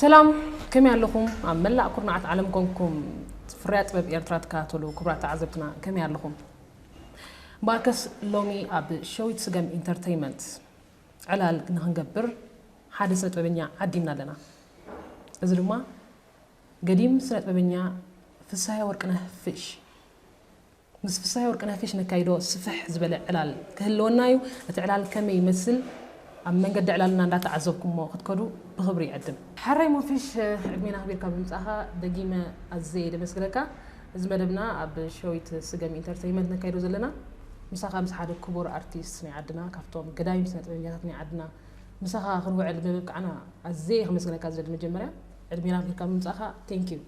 ሰላም ከመይ ኣለኹም ኣብ መላእ ኩርናዓት ዓለም ኮንኩም ፍርያ ጥበብ ኤርትራ ትከታተሉ ክብራት ተዓዘብትና ከመይ ኣለኹም እምበኣርከስ ሎሚ ኣብ ሸዊት ስገም ኢንተርተይመንት ዕላል ንክንገብር ሓደ ስነጥበበኛ ዓዲምና ኣለና። እዚ ድማ ገዲም ስነጥበበኛ ፍስሃየ ወርቅነህ፣ ፊሽ፣ ምስ ፍስሃየ ወርቅነህ፣ ፊሽ፣ ነካይዶ ስፍሕ ዝበለ ዕላል ክህልወና እዩ። እቲ ዕላል ከመይ ይመስል ኣብ መንገዲ ዕላልና እንዳተዓዘብኩሞ ክትከዱ ብክብሪ ይዕድም። ሐራይ ሞፊሽ ዕድሜን ኣክቢርካ ብምምጻእካ ደጊመ ኣዝየ እየ ደመስግነካ። እዚ መደብና ኣብ ሸዊት ስገም ኢንተርተይመንት ነካይዶ ዘለና ምሳኻ ምስ ሓደ ክቡር ኣርቲስት ናይ ዓድና ካብቶም ገዳይም ስነ ጥበበኛታት ናይ ዓድና ምሳኻ ክንውዕል ብምብቃዕና ኣዝየ ከመስግነካ ዝደሊ መጀመርያ ዕድሜ ናብ ሂብካ ምምጻእኻ ቴንክ ዩ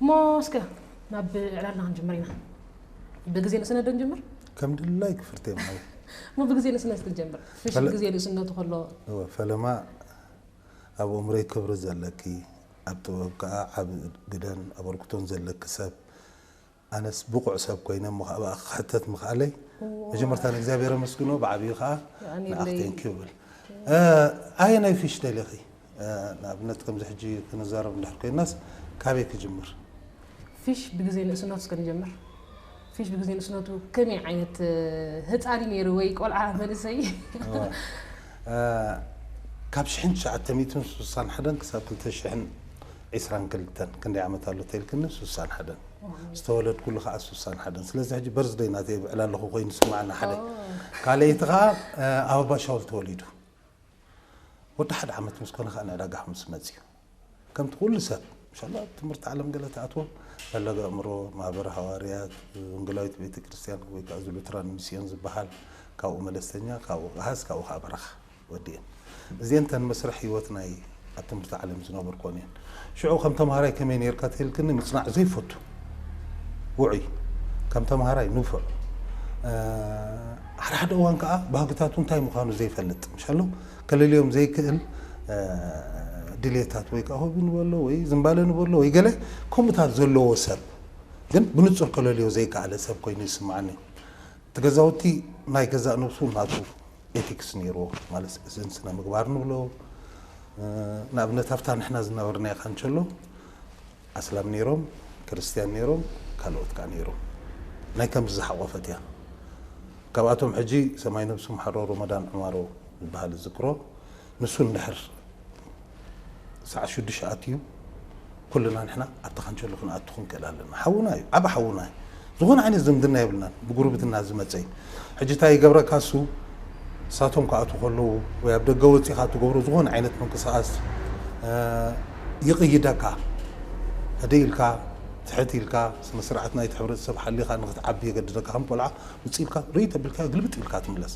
እሞ እስከ ናብ ዕላልና ክንጅምር ኢና ብግዜ ንእስነት ዶ ንጀምር ከም ድላይ ክፍርቴ ማለት እሞ ብግዜ ንእስነት ክንጀምር ፍሽል ግዜ ንእስነቱ ከሎ ፈለማ ኣብ እምሮይ ክብሪ ዘለኪ ኣብ ጥበብ ከኣ ዓቢ ግደን ኣበርክቶን ዘለኪ ሰብ ኣነስ ብቑዕ ሰብ ኮይነ እሞ ከኣ ብኣኺ ክሕተት ምኽኣለይ መጀመርታ ንእግዚኣብሔር ኣመስግኖ ብዓቢኡ ከኣ ንኣኺ ቴንኪው እብል ኣየናይ ፊሽ ደሊኺ ንኣብነት ከምዚ ሕጂ ክንዛረብ እንድሕር ኮይናስ ካበይ ክጅምር ፊሽ ብግዜ ንእስነቱ እስከ ንጀምር። ፊሽ ብግዜ ንእስነቱ ከመይ ዓይነት ህጻን እዩ ነይሩ ወይ ቆልዓ መንእሰይ? ካብ ሽሕን ትሽዓተ ሚእትን ስሳን ሓደን ክሳብ ክልተ ሽሕን ዒስራን ክልተን ክንደይ ዓመት ኣሎ ተልክኒ ስሳን ሓደን ዝተወለድኩሉ ከኣ ስሳን ሓደን ስለዚ ሕጂ በርዝደይ ናተይ የብዕል ኣለኹ ኮይኑ ይስምዓኒ ሓደ ካልኣይቲ ከኣ ኣብ ኣባሻውል ተወሊዱ ወዲ ሓደ ዓመት ምስ ኮነ ከኣ ንዕዳጋ ምስ መጽዩ ከምቲ ኩሉ ሰብ እንሻላ ኣብ ትምህርቲ ዓለም ገለ ትኣትዎ ፈለገ ኣእምሮ ማህበረ ሃዋርያት ወንጌላዊት ቤተ ክርስቲያን ወይ ከዓ ዝሉትራን ሚስዮን ዝበሃል ካብኡ መለስተኛ ካብኡ ቃሃስ ካብኡ ከዓ በረኻ ወዲኤን እዚኤን ተን መስርሕ ህይወት ናይ ኣብ ትምህርቲ ዓለም ዝነበርኮን እየን ሽዑ ከም ተምሃራይ ከመይ ነርካ ትህልክኒ ምፅናዕ ዘይፈቱ ውዑይ ከም ተምሃራይ ንፉዕ ሓድሓደ እዋን ከዓ ባህግታቱ እንታይ ምዃኑ ዘይፈልጥ ምሻሎ ከለልዮም ዘይክእል ድሌታት ወይ ከኣ ሆቢ ንበሎ ወይ ዝምባለ ንበሎ ወይ ገለ ከምኡታት ዘለዎ ሰብ ግን ብንጹር ከለልዮ ዘይከኣለ ሰብ ኮይኑ ይስምዓኒ። እቲ ገዛውቲ ናይ ገዛእ ነብሱ ናቱ ኤቲክስ ነይርዎ ማለት እዚ ስነ ምግባር ንብሎ ንኣብነት ኣብታ ንሕና ዝነበርናያ ካንቸሎ ኣስላም ነይሮም ክርስትያን ነይሮም ካልኦት ከኣ ነይሮም ናይ ከምዚ ዝሓቖፈት እያ ካብኣቶም ሕጂ ሰማይ ነብሱ ምሓሮ ሮሞዳን ዑማሮ ዝብሃል እዝክሮ ንሱ እንድሕር ሰዓት ሽዱሽተ ኣትዩ ኩልና ንሕና ኣብቲ ካንቸሎ ክንኣቱ ክንክእል ኣለና ሓውና እዩ ዓቢ ሓውና እዩ ዝኾነ ዓይነት ዝምድና የብልናን ብጉርብትና ዝመጸ እዩ ሕጂ እንታይ ይገብረካ እሱ ንሳቶም ክኣትዉ ከለዉ ወይ ኣብ ደገ ወጺኻ ትገብሮ ዝኾነ ዓይነት ምንቅስቓስ ይቕይደካ ህድእ ኢልካ ትሕት ኢልካ ስነ ስርዓት ናይቲ ሕብረተሰብ ሓሊኻ ንኽትዓቢ የገድደካ ከም ቆልዓ ውጽእ ኢልካ ርእይ ተብልካዮ ግልብጥ ኢልካ ትምለስ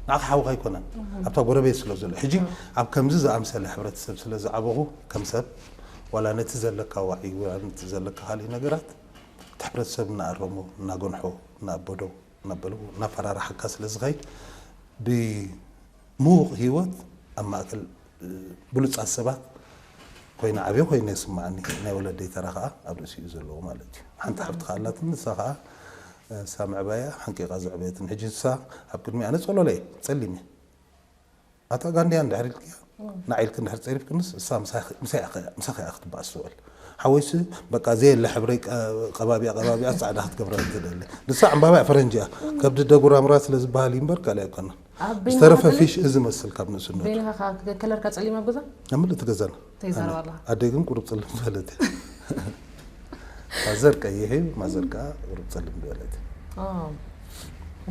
ንዓኻ ሓውኻ ኣይኮነን ኣብታ ጎረቤት ስለ ዘሎ ሕጂ ኣብ ከምዚ ዝኣምሰለ ሕብረተሰብ ስለ ዝዓበኹ ከም ሰብ ዋላ ነቲ ዘለካ ዋዒ ዋላ ነቲ ዘለካ ካልእ ነገራት እቲ ሕብረተሰብ እናኣረሞ እናጎንሖ እናኣበዶ እናበሎ እናፈራርሓካ ስለ ዝኸይድ ብምዉቕ ሂወት ኣብ ማእከል ብሉጻት ሰባት ኮይነ ዓብየ ኮይነ ይስምዓኒ ናይ ወለደይ ተራ ከኣ ኣብ ርእሲ እዩ ዘለዎ ማለት እዩ ሓንቲ ሓብቲ ከኣ ኣላትኒ ንሳ ከኣ ንሳ ምዕባያ ሓንቂቃ ዘዕበየትኒ ሕጂ ንሳ ኣብ ቅድሚኣ ኣነ ጸሎለ እየ ጸሊም እየ ኣታ ጋንድያ እንድሕር ኢልክያ ናዕ ኢልኪ እንድሕር ጸሪፍክንስ እሳ ምሳኺ እያ ክትበኣስ ትውዕል ሓወይሲ በቃ ዘየለ ሕብረይ ቀባቢኣ ቀባቢኣ ጻዕዳ ክትገብረኒ ትደሊ ንሳ ዕምባባ እያ ፈረንጂ እያ ከብዲ ደጉራምራ ስለ ዝበሃል እዩ እምበር ካልእ ኣይኮነን ዝተረፈ ፊሽ እዚ መስል ካብ ንእስነቱ ቤኒኻ ከለርካ ጸሊም ኣብ ገዛ ኣብ ምልእቲ ገዛና ተይዛረባ ኣላ ኣደይ ግን ቁሩብ ጽልም ዝበለት ፋዘር ቀይሕ እዩ ማዘር ከዓ ቁሩብ ጸልም ዝበለት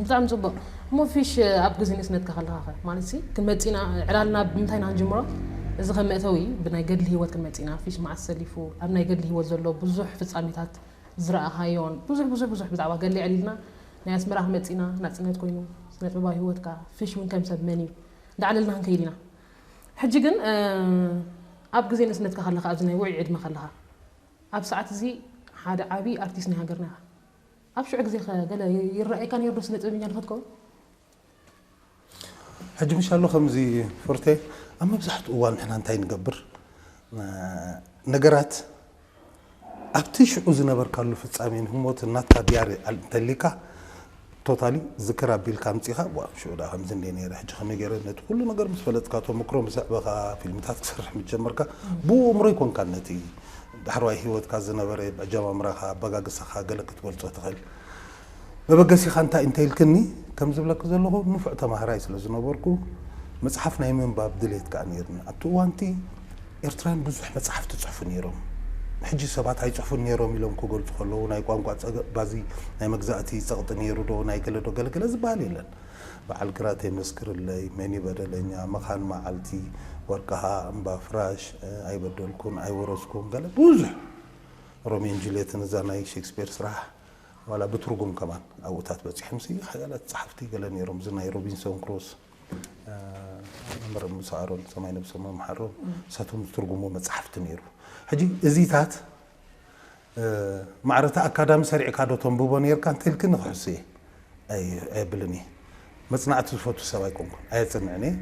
ብጣዕሚ ጽቡቅ እሞ ፊሽ ኣብ ግዜ ንእስነትካ ከለካ ከ ማለት ሲ ክንመጺና ዕላልና ብምንታይ ኢና ክንጅምሮ እዚ ከም መእተዊ ብናይ ገድሊ ህይወት ክንመጺና ፊሽ መዓስ ሰሊፉ ኣብ ናይ ገድሊ ህይወት ዘሎ ብዙሕ ፍጻሜታት ዝረኣኻዮን ብዙሕ ብዙሕ ብዙሕ ብዛዕባ ገድሊ ዕሊልና ናይ ኣስመራ ክንመጺና ናጽነት ኮይኑ ስነጥበባዊ ህይወትካ ፊሽ እውን ከም ሰብ መን እዩ እንዳዕለልና ክንከይድ ኢና ሕጂ ግን ኣብ ግዜ ንእስነትካ ከለካ ኣብዚ ናይ ውዑይ ዕድመ ከለካ ኣብ ሰዓት እዚ ሓደ ዓቢ ኣርቲስት ናይ ሃገርና ኢካ ኣብ ሽዑ ግዜ ከ ገለ ይረኣየካ ኔሩ ዶ ስነ ጥበበኛ ንክትከውን? ሕጂ ምሻሉ ከምዚ ፉርቴ ኣብ መብዛሕትኡ እዋን ንሕና እንታይ ንገብር ነገራት ኣብቲ ሽዑ ዝነበርካሉ ፍጻሜን ህሞትን ናትካ ድያሪ እንተሊካ ቶታሊ ዝክር ኣቢልካ ኣምጺኻ ዋእ ኣብ ሽዑ ድኣ ከምዚ እንዴ ነይረ ሕጂ ከመይ ገይረ ነቲ ኩሉ ነገር ምስ ፈለጥካ ተመክሮ ምስ ኣዕበኻ ፊልምታት ክሰርሕ ምስ ጀመርካ ብኡ እምሮ ኣይኮንካን ነቲ ዳሕረዋይ ህይወትካ ዝነበረ ኣጀማምራኻ ኣበጋግሳኻ ገለ ክትገልጾ ትኽእል መበገሲኻ እንታይ እንተ ኢልክኒ ከም ዝብለኪ ዘለኹ ንፉዕ ተማሃራይ ስለ ዝነበርኩ መጽሓፍ ናይ ምንባብ ድሌት ከኣ ነይርኒ ኣብቲ እዋንቲ ኤርትራን ብዙሕ መጻሕፍት ይጽሕፉ ነይሮም። ሕጂ ሰባት ኣይጽሕፉን ነይሮም ኢሎም ክገልጹ ከለዉ ናይ ቋንቋ ጸገ ባዚ ናይ መግዛእቲ ጸቕጢ ነይሩ ዶ ናይ ገለ ዶ ገለገለ ዝበሃል የለን። በዓል ግራት የመስክርለይ፣ መን እዩ በደለኛ፣ መኻን መዓልቲ፣ ወርቅሃ፣ እምባ ፍራሽ፣ ኣይበደልኩን፣ ኣይወረስኩን ገለ ብዙሕ ሮሜን ጁልየትን እዛ ናይ ሼክስፔር ስራሕ ዋላ ብትርጉም ከማን ኣብኡታት በጺሖምሲ ሓያላት ጸሓፍቲ ገለ ነይሮም እዚ ናይ ሮቢንሶን ክሩስ መምህር ሙሳ ኣሮን ሰማይ ነብሶም ይምሓሮ ንሳቶም ዝትርጉምዎ መጻሕፍቲ ነይሩ ሕጂ እዚታት ማዕረታ ኣካዳሚ ሰሪዕካ ዶ ተንብቦ ነርካ እንተልክኒ ክሕሱ እየ ኣየብልን እየ መጽናዕቲ ዝፈቱ ሰብ ኣይኮንኩን ኣየጽንዕን እየ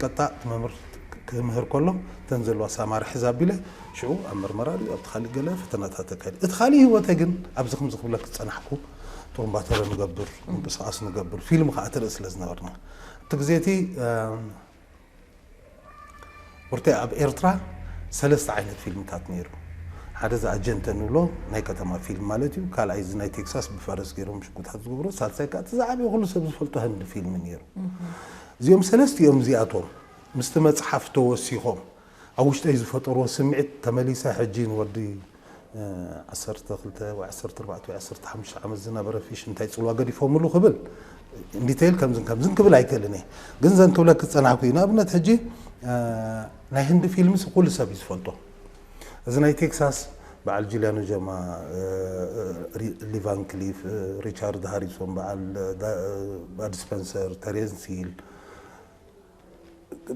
ቀጣ እቲ መምህር ክምህር ከሎ እተን ዘለዋ ሳማር ሕዝ ኣቢለ ሽዑ ኣብ መርመራ ድዩ ኣብቲ ካሊእ ገለ ፈተናታት ኣካይድ እቲ ካሊእ ህይወተ ግን ኣብዚ ከምዚ ክብለክ ዝጸናሕኩ ጦምባተረ ንገብር ምንቅስቃስ ንገብር ፊልም ከዓ ትርኢ ስለ ዝነበርና እቲ ግዜ እቲ ብርተ ኣብ ኤርትራ ሰለስተ ዓይነት ፊልምታት ነይሩ ሓደ እዚ ኣጀንተ ንብሎ ናይ ከተማ ፊልም ማለት እዩ ካልኣይ እዚ ናይ ቴክሳስ ብፈረስ ገይሮም ሽጉታት ዝገብሮ ሳልሳይ ከዓ እቲ ዝዓበየ ኩሉ ሰብ ዝፈልጦ ህንዲ ፊልም ነይሩ እዚኦም ሰለስቲኦም እዚኣቶም ምስቲ መፅሓፍ ተወሲኾም ኣብ ውሽጠይ ዝፈጠርዎ ስምዒት ተመሊሰ ሕጂ ንወዲ ዓሰርተ ክልተ ወይ ዓሰርተ ኣርባዕተ ወይ ዓሰርተ ሓሙሽተ ዓመት ዝነበረ ፊሽ እንታይ ጽልዋ ገዲፎምሉ ክብል in detail ከምዝን ከምዝን ክብል ኣይክእልን እየ ግን ዘን ክብለኪ ዝጸናሕኩ እዩ ንኣብነት ሕጂ ናይ ህንዲ ፊልምስ ኩሉ ሰብ እዩ ዝፈልጦ እዚ ናይ ቴክሳስ በዓል ጁልያኖ ጀማ ሊቫን ክሊፍ ሪቻርድ ሃሪሶን በዓል ባድ ስፐንሰር ተሬንስ ሂል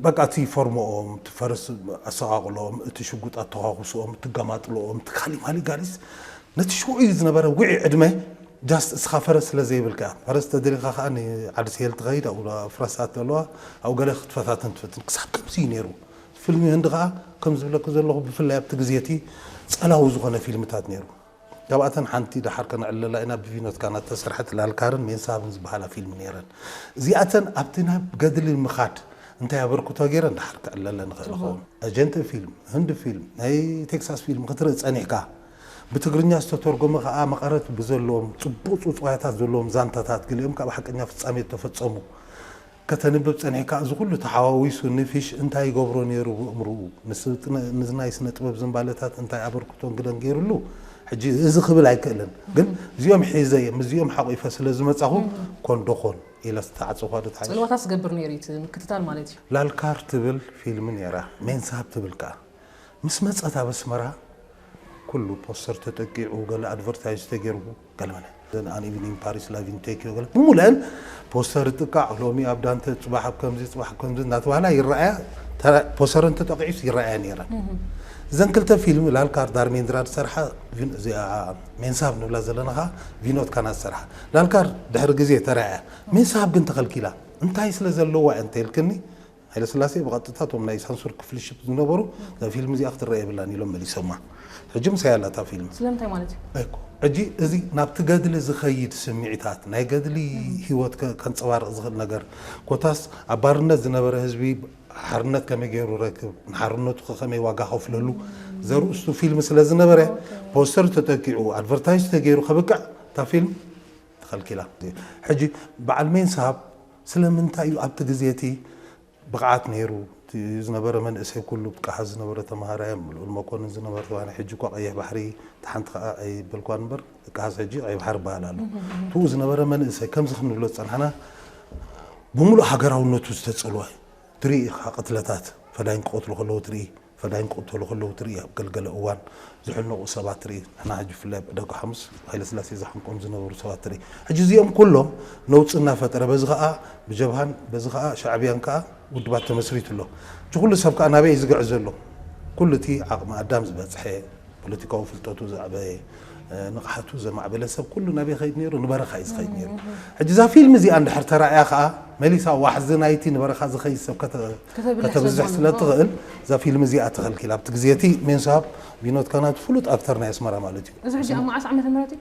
በቃ እቲ ፎርሞኦም፣ እቲ ፈረስ ኣሰቓቕሎኦም፣ እቲ ሽጉጥ ኣተዃኹስኦም፣ እቲ ገማጥሎኦም፣ እቲ ካሊ ማሊ ጋሊስ ነቲ ሽዑኡ ዝነበረ ውዑይ ዕድመ ጃስት እስኻ ፈረስ ስለ ዘይብልካ ፈረስ ተደሊኻ ከኣ ንዓዲ ስሄል ትኸይድ ኣብኡ ፍረሳት ኣለዋ ኣብኡ ገለ ክትፈታትን ትፈትን ክሳብ ከምዚ እዩ ነይሩ ፊልሚ ህንዲ ከኣ ከም ዝብለኪ ዘለኹ ብፍላይ ኣብቲ ግዜ እቲ ጸላዊ ዝኾነ ፊልምታት ነይሩ ካብኣተን ሓንቲ ደሓር ከነዕልላ ኢና ብቪኖት ካና እተሰርሐት ላልካርን ሜንሳብን ዝበሃላ ፊልም ነይረን። እዚኣተን ኣብቲ ናብ ገድሊ ንምኻድ እንታይ ኣበርክቶ ገይረን ደሓር ክዕለለን ይኽእል ይኸውን። ኣጀንተ ፊልም፣ ህንዲ ፊልም፣ ናይ ቴክሳስ ፊልም ክትርኢ ጸኒሕካ፣ ብትግርኛ ዝተተርጎመ ከኣ መቐረት ብዘለዎም ጽቡቕ ጽውጽዋያታት ዘለዎም ዛንታታት፣ ገሊኦም ከኣ ብሓቀኛ ፍጻሜ እተፈጸሙ፣ ከተንብብ ጸኒሕካ እዚ ኩሉ ተሓዋዊሱ ንፊሽ እንታይ ይገብሮ ኔሩ ብእምርኡ ንናይ ስነ ጥበብ ዝንባለታት እንታይ ኣበርክቶን ግደን ጌርሉ ሕጂ እዚ ክብል ኣይክእልን ግን እዚኦም ሒዘ እየ ምስዚኦም ሓቂፈ ስለ ዝመጻኹ ኮን ዶ ኮን ኢለ ዝተዓጸኳ ዶ ትሓይሽ? ጽልዋታት ዝገብር ኔሩ እዩ እቲ ምክትታል ማለት እዩ። ላልካር ትብል ፊልሚ ኔራ ሜንሳብ ትብል ከኣ። ምስ መጸት ኣብ ኣስመራ ኩሉ ፖስተር ተጠቂዑ ገለ ኣድቨርታይዝ ተጌርዎ ገለ መለ ዘን ኣን ኢቭኒንግ ፓሪስ ላቭ ኢን ቴክዮ ገለ ብሙሉኤን ፖስተር ጥቃዕ ሎሚ ኣብ ዳንተ ጽባሕ ኣብ ከምዚ ጽባሕ ከምዚ እናተባህላ ይረኣያ ፖስተረን ተጠቂዑስ ይረኣያ ነይረን እዘን ክልተ ፊልም ላልካር ዳርሜንድራ ዝሰርሓ እዚኣ ሜንሳብ ንብላ ዘለና ከዓ ቪኖት ካና ዝሰርሓ ላልካር ድሕሪ ግዜ ተራእያ ሜንሳብ ግን ተኸልኪላ እንታይ ስለ ዘለዋ እየ እንተይልክኒ ሃይለስላሴ ብቐጥታ እቶም ናይ ሳንሱር ክፍሊ ሽፕ ዝነበሩ እዛ ፊልም እዚኣ ክትረኣ የብላን ኢሎም መሊሶማ። ሕጂ ምሳይ ኣላ እታ ፊልም። ስለምንታይ ማለት እዩ? ኣይኮ ሕጂ እዚ ናብቲ ገድሊ ዝኸይድ ስምዒታት ናይ ገድሊ ህይወት ከንጸባርቕ ዝኽእል ነገር ኮታስ ኣብ ባርነት ዝነበረ ህዝቢ ሓርነት ከመይ ገይሩ ረክብ ንሓርነቱ ከከመይ ዋጋ ከፍለሉ ዘርእስቱ ፊልም ስለ ዝነበረ ፖስተር ተጠቂዑ ኣድቨርታይዝ ተገይሩ ከብቅዕ እታ ፊልም ተኸልኪላ። ሕጂ በዓል ሜን ሳብ ስለምንታይ እዩ ኣብቲ ግዜ እቲ ብቕዓት ነይሩ እቲ ዝነበረ መንእሰይ ኩሉ ብቅዓት ዝነበረ ተማሃራይ ኣብ ልኡል መኮንን ዝነበረ ተማሃራይ ሕጂ እኳ ቀይሕ ባሕሪ እታ ሓንቲ ከኣ ኣይበልኳን እምበር ደቃስ ሕጂ ቀይሕ ባሕሪ ይበሃል ኣሎ እትኡ ዝነበረ መንእሰይ ከምዚ ክንብሎ ዝጸናሕና ብምሉእ ሃገራውነቱ ዝተጸልወ ትርኢ ኢኻ ቅትለታት ፈዳይን ክቐትሉ ከለዉ ትርኢ ፈዳይን ክቕተሉ ከለዉ ትርኢ፣ ኣብ ገልገለ እዋን ዝሕነቑ ሰባት ትርኢ፣ ንሕና ሕጂ ብፍላይ ኣብ ዕዳጋ ሓሙስ ሃይለስላሴ ዝሓንቆም ዝነበሩ ሰባት ትርኢ። ሕጂ እዚኦም ኩሎም ነውጺ እናፈጠረ በዚ ከኣ ብጀብሃን በዚ ከኣ ሻዕብያን ከኣ ውድባት ተመስሪቱ ኣሎ። እዚ ኩሉ ሰብ ከኣ ናበይ እዩ ዝግዕዝ ዘሎ? ኩሉ እቲ ዓቕሚ ኣዳም ዝበጽሐ፣ ፖለቲካዊ ፍልጠቱ ዘዕበየ፣ ንቕሓቱ ዘማዕበለ ሰብ ኩሉ ናበይ ይኸይድ ነይሩ? ንበረኻ እዩ ዝኸይድ ነይሩ። ሕጂ እዛ ፊልም እዚኣ እንድሕር ተራእያ ከኣ መሊሳ ዋሕዚ ናይቲ ንበረኻ ዝኸይድ ሰብ ከተብዝሕ ስለ ትኽእል እዛ ፊልም እዚኣ ተኸልኪላ። ኣብቲ ግዜ እቲ ሜንሶሃብ ቢኖት ካናት ፍሉጥ ኣክተር ናይ ኣስመራ ማለት እዩ። እዚ ሕጂ ኣብ መዓስ ዓመተ ምህረት እዩ?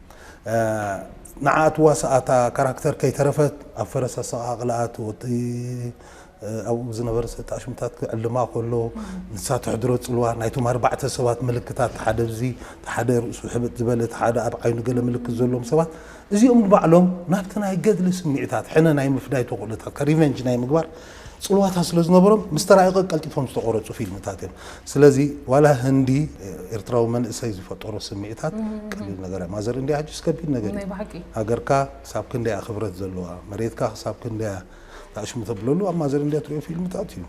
ንዓ ትዋሳኣ እታ ካራክተር ከይተረፈት ኣብ ፈረስ ኣሰቓቕልኣ እቲ ወዲ ኣብኡ ዝነበረ ሰጥ ኣሽሙታት ክዕልማ ከሎ ንሳ ተሕድሮ ጽልዋ ናይቶም ኣርባዕተ ሰባት ምልክታት እቲ ሓደ እዚ እቲ ሓደ ርእሱ ሕብጥ ዝበለ እቲ ሓደ ኣብ ዓይኑ ገለ ምልክት ዘለዎም ሰባት እዚኦም ንባዕሎም ናብቲ ናይ ገድሊ ስምዒታት ሕነ ናይ ምፍዳይ ተኽእሎታትካ ሪቨንጅ ናይ ምግባር ጽልዋታት ስለ ዝነበሮም ምስ ተራእቀ ቀልጢፎም ዝተቆረጹ ፊልምታት እዮም። ስለዚ ዋላ ህንዲ ኤርትራዊ መንእሰይ ዝፈጠሮ ስምዒታት ቀሊል ነገር ኣዩ። ማዘር እንድያ ሕጂስ ከቢድ ነገር ናይ እዩ። ብሓቂ ሃገርካ ክሳብ ክንደይ እያ ክብረት ዘለዋ፣ መሬትካ ክሳብ ክንደይ እያ ትኣሽሙ ተብለሉ ኣብ ማዘር እንድያ ትርእዮ ፊልምታት እዩ።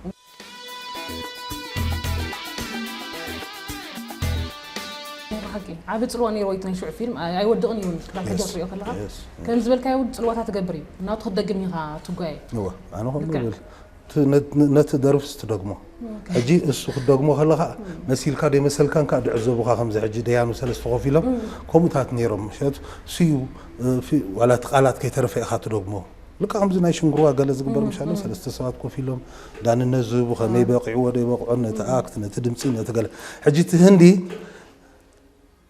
ናይ ብሓቂ ዓቢ ጽልዋ ኔርዎ እዩ እቲ ናይ ሽዑ ፊልም ኣይ- ኣይወድቕን እዩ ውን ክሳብ ሕጂ Yes. ክትርእዮ ከለኻ Yes. ከምዚ ዝበልካዮ ውን ጽልዋታት ይገብር እዩ ናብቲ ክትደግም ኢኻ ትጓየ እወ። ኣነ ከምኡ ልክዕ። ይብል እቲ ነ- ነቲ ደርፍስ ትደግሞ ሕጂ እሱ ክትደግሞ ከለካ መሲልካ ደይመሰልካን ከዓ ድዕዘቡካ ከምዚ ሕጂ ደያኑ ሰለስተ ኮፍ ኢሎም ከምኡታት ነይሮም ምክንያቱ እሱዩ እ፣ ፊ- ዋላ እቲ ቃላት ከይተረፈ ኢካ ትደግሞ ልክዕ ከምዚ ናይ ሽንግርዋ ገለ ዝግበር ምሽ ኣሎ ሰለስተ ሰባት ኮፍ ኢሎም ዳንነት ዝህቡ ከመይ በቂዕዎ ደይበቅዖን ነቲ ኣክት ነቲ ድምፂ ነቲ ገለ ሕጂ እቲ ህንዲ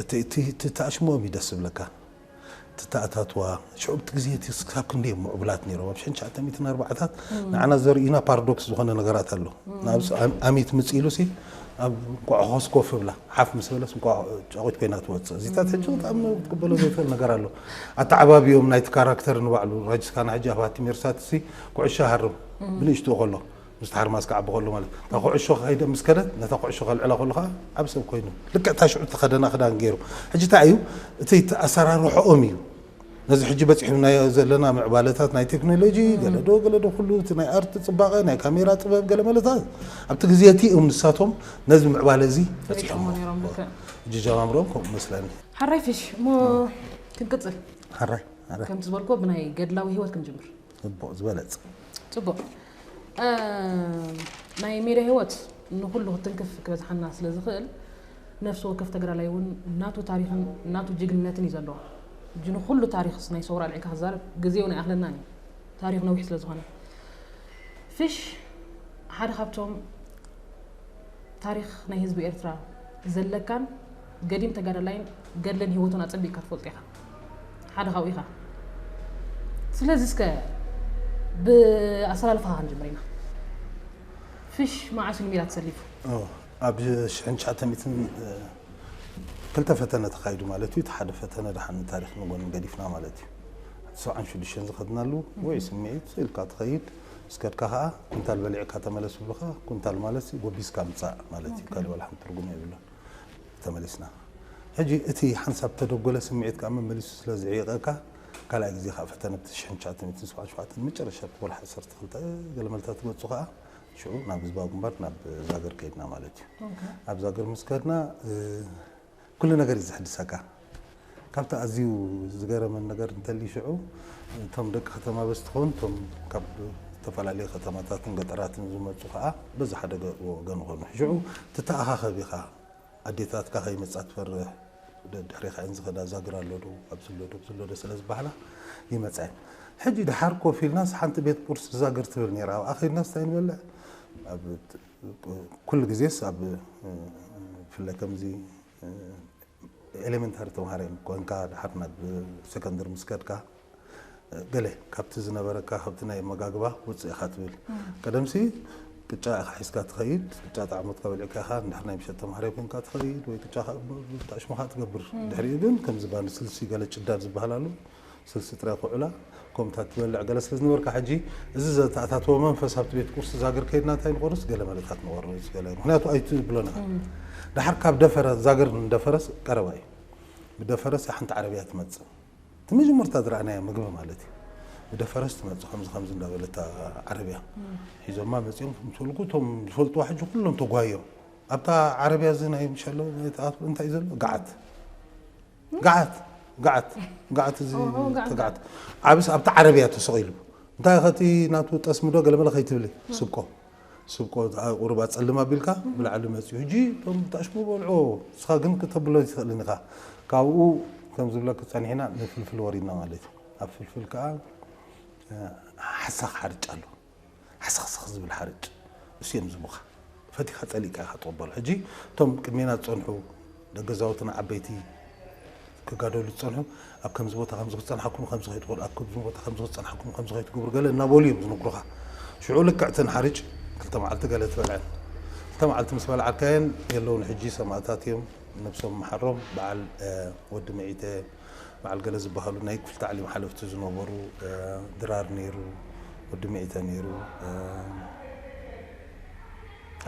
እቲ ተኣሽሞም እዩ ደስ ዝብለካ እቲ ተኣታትዋ ሽዑ እቲ ግዜ እቲ ክሳብ ክንደይ እዮም ምዕቡላት ነይሮም ኣብ ሸን ትሽዓተ ሚእትን ኣርባዓታት ንዓና ዘርእዩና ፓራዶክስ ዝኾነ ነገራት ኣሎ ንኣብስ ኣሚት ምጽ ኢሉሲ ኣብ እንቋዕኾስ ኮፍ ብላ ሓፍ ምስ በለስ ጫቑት ኮይና ትወፅእ እዚታት ሕጂ ብጣዕሚ ክትቅበሎ ዘይትኽእል ነገር ኣሎ ኣተዓባቢዮም ናይቲ ካራክተር ንባዕሉ ረጅስካና ሕጂ ኣብ ሃቲ ሜርሳትሲ ኩዕሻ ሃርም ብንእሽትኡ ከሎ ምስቲ ሓርማዝ ክዓቢ ከሎ ማለት እዩ። እታ ኩዕሾ ከይደ ምስ ከደት ነታ ኩዕሾ ከልዕላ ከሎ ከኣ ዓቢ ሰብ ኮይኑ ልክዕ እታ ሽዑ እተኸደና ክዳን ገይሩ። ሕጂ እንታይ እዩ እቲ ኣሰራርሖኦም እዩ ነዚ ሕጂ በጺሕናዮ ዘለና ምዕባለታት ናይ ቴክኖሎጂ ገለዶ ገለዶ ኩሉ እቲ ናይ ኣርት ጽባቐ ናይ ካሜራ ጥበብ ገለመለታት ኣብቲ ግዜ እቲ እዮም ንሳቶም ነዚ ምዕባለ እዚ በጺሖሞ ሕጂ ጀማምሮም ከምኡ መስለኒ። ሓራይ ፊሽ እሞ ክንቅጽል። ሓራይ ሓራይ ከምቲ ዝበልክዎ ብናይ ገድላዊ ህይወት ክንጅምር። ፅቡቅ ዝበለፅ። ፅቡቅ ናይ ሜድያ ህይወት ንኩሉ ክትንክፍ ክበዝሓና ስለ ዝክእል ነፍሲ ወከፍ ተግራላይ እውን ናቱ ታሪክን ናቱ ጅግንነትን እዩ ዘለዎ እጂ ንኩሉ ታሪክ ናይ ሰውራ ኣልዒልካ ክዛረብ ግዜ እውን ኣይኣክለናን እዩ ታሪክ ነዊሕ ስለ ዝኮነ ፍሽ ሓደ ካብቶም ታሪክ ናይ ህዝቢ ኤርትራ ዘለካን ገዲም ተጋዳላይን ገድልን ሂወቱን ኣጸቢቅካ ትፈልጦ ኢኻ ሓደ ካብኡ ኢኻ ስለዚ እስከ ብኣሰላልፋኻ ክንጅምር ኢና ፍሽ መዓስ ንሚራ ተሰሊፉ ኣብ ሽሕን ትሽዓተ ሚእትን ክልተ ፈተነ ተኻይዱ ማለት እዩ እቲ ሓደ ፈተነ ድሓን ንታሪክ ንጎኒ ገዲፍና ማለት እዩ ሰብዓን ሽዱሽተን ዝኸድናሉ ወይ ስምዒት ኢልካ ትኸይድ ምስ ከድካ ከዓ ኩንታል በሊዕካ ተመለስ ይብሉኻ ኩንታል ማለት ጎቢዝካ ምፃእ ማለት እዩ ካልእ ዋላ ሓንቲ ትርጉም የብሉን ተመሊስና ሕጂ እቲ ሓንሳብ ተደጎለ ስምዒት ከኣ መመሊሱ ስለ ዝዕይቀካ ካልኣይ ግዜ ከኣ ፈተነ ብ ትሽሕን ትሽዓተን ሚእትን ሰብዓን ሸውዓተን መጨረሻ እቲ ወርሒ ዓሰርተ ክልተ ገለ መልታት ክመጹ ከኣ ሽዑ ናብ ህዝባዊ ግንባር ናብ ዛገር ከይድና ማለት እዩ ኣብ ዛገር ምስ ከድና ኩሉ ነገር እዩ ዝሕድሰካ ካብቲ ኣዝዩ ዝገረመኒ ነገር እንተልዩ ሽዑ እቶም ደቂ ከተማ በዚ ትኸውን እቶም ካብ ዝተፈላለዩ ከተማታትን ገጠራትን ዝመጹ ከኣ በዚ ሓደ ወገን ኾኑ ሽዑ ትተኣኻኸብ ኢኻ ኣዴታትካ ከይመጻ ትፈርህ ደድሕሬኻ እየን ዝኸዳ ዛግር ኣሎዶ ኣብዝሎ ዶብዝሎዶ ስለ ዝበሃላ ይመጻ እየን ሕጂ ደሓር ኮፍ ኢልናስ ሓንቲ ቤት ቁርሲ ዛግር ትብል ነይራ ኣብኣ ከይድናስ እንታይ ንበልዕ ኩሉ ግዜስ ኣብ ብፍላይ ከምዚ ኤለመንታሪ ተምሃራይ ኮይንካ ድሓር ናብ ሰከንደሪ ምስ ከድካ ገለ ካብቲ ዝነበረካ ካብቲ ናይ ኣመጋግባ ውፅእ ኢኻ ትብል ቀደምሲ ቅጫ ኢኻ ሒዝካ ትኸይድ ቅጫ ጣዕሞት ከበልዕካ ኢኻ እንድሕር ናይ ምሸት ተምሃራይ ኮይንካ ትኸይድ ወይ ቅጫ ብጣዕሽሙኻ ትገብር ድሕሪኡ ግን ከምዚ ባኒ ስልሲ ገለ ጭዳድ ዝበሃል ኣሎ ስልሲ ጥራይ ኩዑላ ኮምታት ትበልዕ ገለ ስለ ዝነበርካ ሕጂ እዚ ዘተኣታተወ መንፈስ ኣብቲ ቤት ቁርሲ ዛግር ከይድና እንታይ ንቆርስ ገለ መለታት ንቆርስ ገለ ምክንያቱ ኣይትብሎን ኢካ ደሓር ካብ ደፈረ ዛግር ንደፈረስ ቀረባ እዩ ብደፈረስ ሓንቲ ዓረብያ ትመጽእ እቲ መጀመርታ ዝረኣናዮ ምግቢ ማለት እዩ ብደፈረስ ትመጽእ ከምዚ ከምዚ እንዳበለት ዓረብያ ሒዞማ መጺኦም ምስልኩ እቶም ዝፈልጥዋ ሕጂ ኩሎም ተጓዮም ኣብታ ዓረብያ እዚ ናይ ምሸሎ እንታይ እዩ ዘሎ ገዓት ጋዓት ጋዓት ጋዓት እዚ ተጋዓት ዓብስ ኣብቲ ዓረብያ ተሰቂሉ እንታይ ኢኸ እቲ ናቱ ጠስሚ ዶ ገለመለ ከይትብሊ ስብቆ ስብቆ ቁሩብ ኣጸልም ኣቢልካ ብላዕሊ መጽዩ ሕጂ እቶም ብታሽሙ በልዑ ንስኻ ግን ክተብሎ ኣይትኽእልን ኢኻ ካብኡ ከም ዝብለኪ ጸኒሕና ንፍልፍል ወሪድና ማለት እዩ ኣብ ፍልፍል ከኣ ሓሳኽ ሓርጭ ኣሎ ሃሰኽሰኽ ዝብል ሓርጭ ንሱ እዮም ዝህቡኻ ፈቲኻ ጸሊእካ ኢኻ ትቕበሎ ሕጂ እቶም ቅድሜና ዝጸንሑ ደገዛውትና ዓበይቲ ክጋደሉ ዝጸንሑ ኣብ ከምዚ ቦታ ከምዚ ክጸንሓኩም ከምዚ ከይትበሉ ኣብ ከምዚ ቦታ ከምዚ ክጸንሓኩም ከምዚ ከይትገብሩ ገለ እናበሉ እዮም ዝነግሩኻ ሽዑ ልክዕ እተን ሓርጭ ክልተ መዓልቲ ገለ ትበልዐን ክልተ መዓልቲ ምስ በልዓካየን የለውን ሕጂ ሰማእታት እዮም ነብሶም መሓሮም በዓል ወዲ ምዒተ በዓል ገለ ዝበሃሉ ናይ ክፍሊ ታዕሊም ሓለፍቲ ዝነበሩ ድራር ነይሩ፣ ወዲ ሚዒተ ነይሩ፣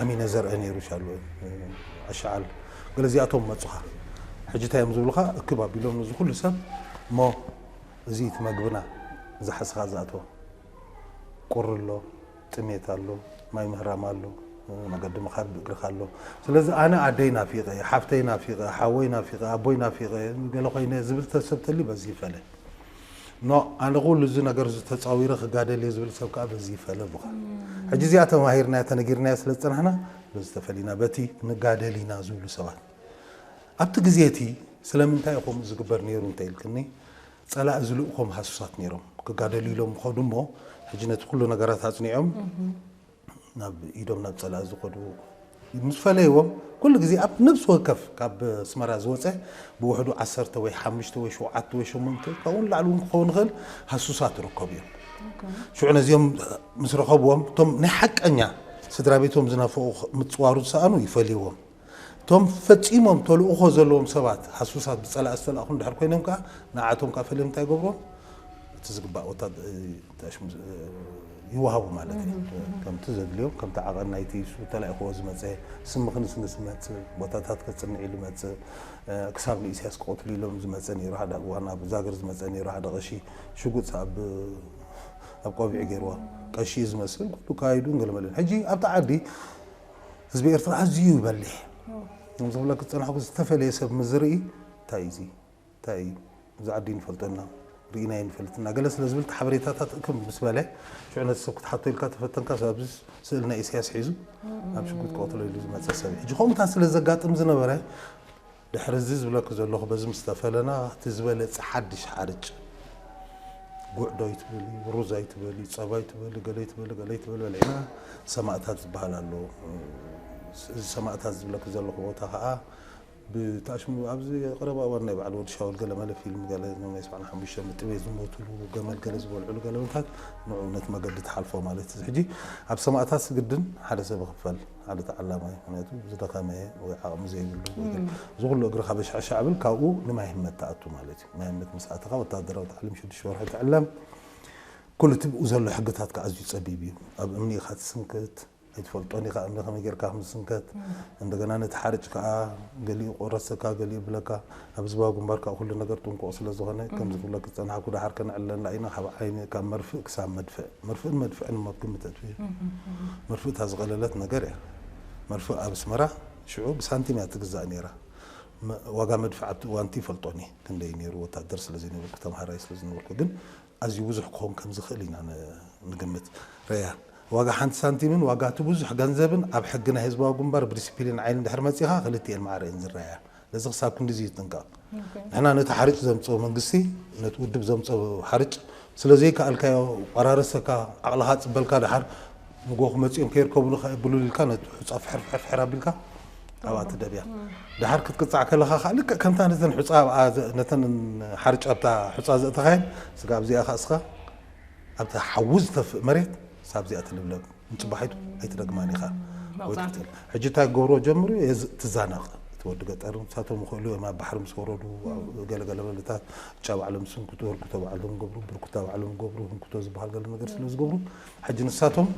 ኣሚነ ዘርአ ነይሩ፣ ሻሎ ኣሻዓል ገለ እዚኣቶም መፁኻ። ሕጂ እንታይ እዮም ዝብሉኻ እክብ ኣቢሎም ነዚ ኩሉ ሰብ እሞ እዚ እቲ መግብና ዝሓዝካ ዝኣቶ ቁሪ ኣሎ፣ ጥሜት ኣሎ ማይ ምህራም ኣሎ መገዲ ምኻድ ብእግርኻ ኣሎ ስለዚ ኣነ ኣደይ ናፊቐ ሓፍተይ ናፊቐ ሓወይ ናፊቐ ኣቦይ ናፊቐ ገለ ኮይነ ዝብል ተሰብ ተልዩ በዚ ይፈለ ኖ ኣነ ኩሉ እዚ ነገር እዚ ተፃዊረ ክጋደል እየ ዝብል ሰብ ከዓ በዚ ይፈለ ኣሉኻ ሕጂ እዚኣ ተማሂርናያ ተነጊርናያ ስለ ዝፀናሕና በዚ ተፈሊና በቲ ንጋደል ኢና ዝብሉ ሰባት ኣብቲ ግዜ እቲ ስለምንታይ እዩ ከምኡ ዝግበር ነይሩ እንተኢልክኒ ጸላኢ ዝልእኮም ሃሱሳት ነይሮም ክጋደሉ ኢሎም ይኸዱ እሞ ሕጂ ነቲ ኩሉ ነገራት ኣጽኒዖም ናብ ኢዶም ናብ ጸላኢ ዝኸዱ ምስ ፈለይዎም ኩሉ ግዜ ኣብ ነብሲ ወከፍ ካብ ኣስመራ ዝወፀ ብውሕዱ ዓሰርተ ወይ ሓሙሽተ ወይ ሸውዓተ ወይ ሸሞንተ ካብኡ ንላዕሊ እውን ክኸውን ይኽእል ሃሱሳት ይርከቡ እዮም ሽዑ ነዚኦም ምስ ረኸብዎም እቶም ናይ ሓቀኛ ስድራ ቤቶም ዝናፈቑ ምፅዋሩ ዝሰኣኑ ይፈልይዎም እቶም ፈጺሞም ተልእኾ ዘለዎም ሰባት ሃሱሳት ብጸላኢ ዝተላእኹ እንድሕር ኮይኖም ከኣ ንዓቶም ከኣ ፈልዮም እንታይ ይገብርዎም እቲ ዝግባእ ወታደ እንታይ ሽሙ ዝ- ይወሃቡ ማለት እዩ ከምቲ ዘድልዮም ከምቲ ዓቐን ናይቲ ሱ ተላኢኽዎ ዝመጸ ስሚ ክንስንስ ዝመጽእ ቦታታት ከጽንዕ ኢሉ ይመጽእ እ፣ ክሳብ ንኢሳያስ ክቐትሉ ኢሎም ዝመጸ ነይሩ ሓደ እዋን ኣብ ዛግር ዝመጸ ነይሩ ሓደ ቀሺ ሽጉጥ ኣብ ኣብ ቆቢዑ ገይርዎ ቀሺ እዩ ዝመስል ኩሉ ካይዱን ገለመለን ሕጂ ኣብቲ ዓዲ ህዝቢ ኤርትራ ኣዝዩ በሊሕ ከም ዝብለኪ ዝጸናሕኩ ዝተፈለየ ሰብ ምስ ዝርኢ እንታይ እዚ እንታይ እዩ እዚ ዓዲ ንፈልጦ እና ርኢና ይንፈልጥ እና ገለ ስለ ዝብል ሓበሬታታት እክብ ምስ በለ ሽዑ ነቲ ሰብ ክትሓቶ ኢልካ ተፈተንካ ኣብዚ ስእሊ ናይ ኢሳያስ ሒዙ ኣብ ሽጉጥ ክቐትሎ ኢሉ ዝመጸ ሰብ ሕጂ ከምኡታት ስለ ዘጋጥም ዝነበረ ድሕሪ እዚ ዝብለኪ ዘለኹ በዚ ምስ ተፈለና እቲ ዝበለጸ ሓድሽ ሓርጭ ጉዕ ዶ ኣይትበሊ ሩዝ ኣይትበሊ ጸባ ኣይትበሊ ገለ ኣይትበሊ ገለ ኣይትበሊ በሊዕና ሰማእታት ዝበሃል ኣሎ እዚ ሰማእታት ዝብለኪ ዘለኹ ቦታ ከዓ ብታሽሙ ኣብዚ ቀረባ እዋን ናይ በዓል ወዲ ሻውል ገለ መለ ፊልም ገለ ናይ ሰብዓን ሓሙሽተ ምጥቤ ዝሞትሉ ገመል ገለ ዝበልዕሉ ገለ ምታት ንዑ ነት መገዲ ትሓልፎ ማለት እዚ ሕጂ ኣብ ሰማእታት ግድን ሓደ ሰብ ክፈል ሓደ ተዓላማይ ምክንያቱ ዝደኸመ ወይ ዓቕሚ ዘይብሉ ወይ ገለ እዚ ኩሉ እግርኻ በሻዕሻዕ ብል ካብኡ ንማይ ህመት ትኣቱ ማለት እዩ ማይ ህመት ምስ ኣተኻ ወታደራዊ ታዕሊም ሽዱሽተ ወርሒ ትዕለም ኩሉ እቲ ብኡ ዘሎ ሕግታት ከዓ ኣዝዩ ፀቢብ እዩ ኣብ እምኒ ኢኻ ትስንክት ኣይትፈልጦን ኢኻ እምኒ ከመይ ጌርካ ከም ዝስንከት እንደገና ነቲ ሓርጭ ከዓ ገሊኡ ቆረሰካ ገሊኡ ብለካ ኣብ ህዝባዊ ግንባር ከኣ ኩሉ ነገር ጥንቁቕ ስለ ዝኾነ ከምዚ ክብለኪ ዝጸናሕኩ ደሓር ከነዕልለላ ኢና ካብ ዓይኒ ካብ መርፍእ ክሳብ መድፍዕ መርፍእን መድፍዕን እሞ ግምት ኣጥፊኡ መርፍእ እታ ዝቐለለት ነገር እያ መርፍእ ኣብ ኣስመራ ሽዑ ብሳንቲም እያ ትግዛእ ነይራ ዋጋ መድፍዕ ኣብቲ እዋንቲ ይፈልጦን እየ ክንደይ ነይሩ ወታደር ስለ ዘይነበርኩ ተምሃራይ ስለ ዝነበርኩ ግን ኣዝዩ ብዙሕ ክኸውን ከም ዝኽእል ኢና ንግምት ረያ ዋጋ ሓንቲ ሳንቲምን ዋጋ እቲ ብዙሕ ገንዘብን ኣብ ሕጊ ናይ ህዝባዊ ግንባር ብዲሲፕሊን ዓይኒ ድሕሪ መጺኻ ክልቲኤን ማዕረ እየን ዝረኣያ ነዚ ክሳብ ክንድዚ ይጥንቀቕ። ንሕና ነቲ ሓርጭ ዘምጽኦ መንግስቲ ነቲ ውድብ ዘምጽኦ ሓርጭ ስለ ዘይከኣልካዮ ቆራረሰካ ዓቕልኻ ጽበልካ ደሓር ንጎኹ መጺኦም ከይርከቡኒ ከ ብሉል ኢልካ ነቲ ሑጻ ፍሕር ፍሕር ፍሕር ኣቢልካ ኣብኣ ትደብያ። ደሓር ክትቅጻዕ ከለኻ ከኣ ልክዕ ከምታ ነተን ሑጻ ኣብኣ ነተን ሓርጭ ኣብታ ሑጻ ዘእተኻየን ስጋብ እዚኣ ከኣ እስኻ ኣብታ ሓዊ ዝተፍእ መሬት ሳብ እዚኣ ትልብለብ። ንጽባሒቱ ኣይትደግማን ኢኻ ወይ ትቅጽል ሕጂ እንታይ ክገብርዎ ጀምሩ ትዛነቕ እቲ ወዲ ገጠር ንሳቶም ይኽእሉ እዮም ኣብ ባሕሪ ምስ ወረዱ ገለ ገለ በለታት ጫ ባዕሎም ዝስንክቱ ህርኩቶ ባዕሎም ገብሩ ብርኩታ ባዕሎም ገብሩ ህንኩቶ ዝበሃል ገለ ነገር ስለ ዝገብሩ ሕጂ ንሳቶም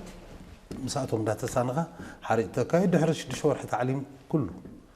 ምስኣቶም እንዳተሳነኻ ሓሪጭ ተካይድ ድሕሪ ሽዱሽተ ወርሒ ታዕሊም ኩሉ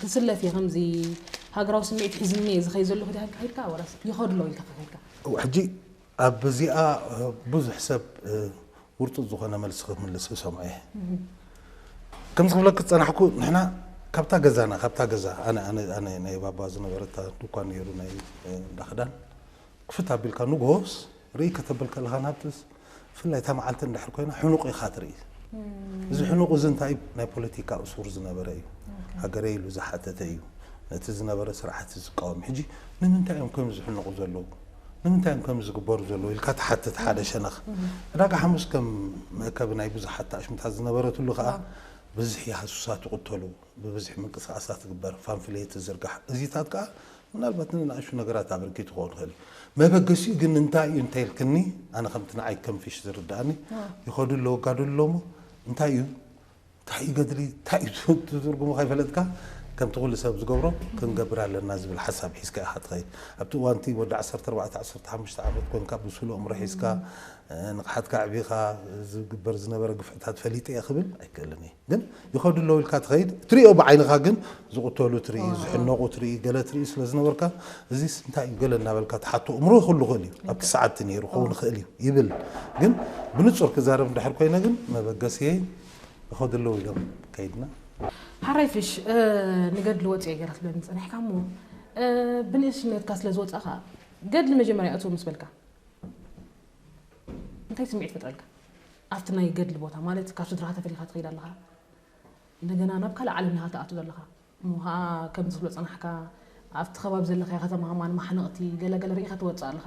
ክስለፍ እየ ከምዚ ሃገራዊ ስምዒት ሒዝኒ እየ ዝኸይድ ዘለኹ ኢልካ ከኺድካ ወላስ ይኸድሎ ኢልካ ከኺድካ? ሕጂ ኣብዚኣ ብዙሕ ሰብ ውርጡጥ ዝኾነ መልሲ ክምልስ ክሰምዖ እየ። ከምዚ ክብለኪ ዝጸናሕኩ ንሕና ካብታ ገዛና ካብታ ገዛ ኣነ ኣነ ኣነ ናይ ባባ ዝነበረ እታ ድኳን ነይሩ ናይ እንዳ ክዳን ክፍት ኣቢልካ ንግሆስ ርእይ ከተብል ከለኻ ናብቲስ ብፍላይ እታ መዓልቲ እንድሕር ኮይና ሕኑቕ ኢኻ ትርኢ። እዚ ሕኑቕ እዚ እንታይ እዩ? ናይ ፖለቲካ እሱር ዝነበረ እዩ። ሃገረይ ኢሉ ዝሓተተ እዩ። ነቲ ዝነበረ ስርዓት እዩ ዝቃወም። ሕጂ ንምንታይ እዮም ከምዚ ዝሕንቑ ዘለዉ? ንምንታይ እዮም ከምዚ ዝግበሩ ዘለዉ? ኢልካ ትሓትት ሓደ ሸነኽ። ዕዳጋ ሓሙስ ከም መእከቢ ናይ ብዙሓት ተኣሽሙታት ዝነበረትሉ ከኣ ብዝሒ ሃሱሳት ይቕተሉ፣ ብብዝሒ ምንቅስቓሳት ዝግበር፣ ፋምፍሌት ዝዝርጋሕ እዚታት ከኣ ምናልባት ንንኣሽቱ ነገራት ኣበርኪቱ ክኸውን ይኽእል እዩ። መበገሲኡ ግን እንታይ እዩ እንተ ኢልክኒ፣ ኣነ ከምቲ ንዓይ ከም ፊሽ ዝርድኣኒ፣ ይኸዱ ኣለዉ ይጋደሉ ኣለዉ እሞ እንታይ እዩ እንታይ እዩ ገድሊ እንታይ እዩ እቲ ትርጉሙ ከይፈለጥካ ከምቲ ኩሉ ሰብ ዝገብሮ ክንገብር ኣለና ዝብል ሓሳብ ሒዝካ ኢኻ ትኸይድ። ኣብቲ እዋን እቲ ወዲ ዓሰርተ ኣርባዕተ ዓሰርተ ሓሙሽተ ዓመት ኮንካ ብሱል ኣእምሮ ሒዝካ ንቕሓትካ ኣዕቢኻ ዝግበር ዝነበረ ግፍዕታት ፈሊጠ እየ ክብል ኣይክእልን እየ። ግን ይኸዱ ኣለዉ ኢልካ ትኸይድ እትሪኦ ብዓይንኻ ግን ዝቕተሉ ትርኢ ዝሕነቑ ትርኢ ገለ ትርኢ ስለ ዝነበርካ እዚስ እንታይ እዩ ገለ እናበልካ ትሓቶ እምሮ ክህሉ ይኽእል እዩ ኣብቲ ሰዓትቲ ነይሩ ክኸውን ይኽእል እዩ ይብል ግን ብንጹር ክዛረብ እንድሕር ኮይነ ግን መበገሲየይ ይኸዱ ኣለዉ ኢሎም ከይድና ሓራይ ፍሽ ንገድሊ ወፂኦ ገይረ ትብለኒ ፀኒሕካ እሞ ብንእስነትካ ስለ ዝወፃኻ ገድሊ መጀመርያ እቶ ምስ በልካ እንታይ ስምዒት ይፈጥረልካ? ኣብቲ ናይ ገድሊ ቦታ ማለት ካብ ስድራኻ ተፈሊኻ ትኸይድ ኣለኻ እንደገና ናብ ካልእ ዓለም ኢኻ ትኣቱ ዘለኻ እሞ ኸኣ ከምዚ ክትብሎ ጸናሕካ ኣብቲ ከባቢ ዘለኻዮ ከተማ ከማን ማሕነቕቲ ገለ ገለ ርኢኻ ትወጽእ ኣለኻ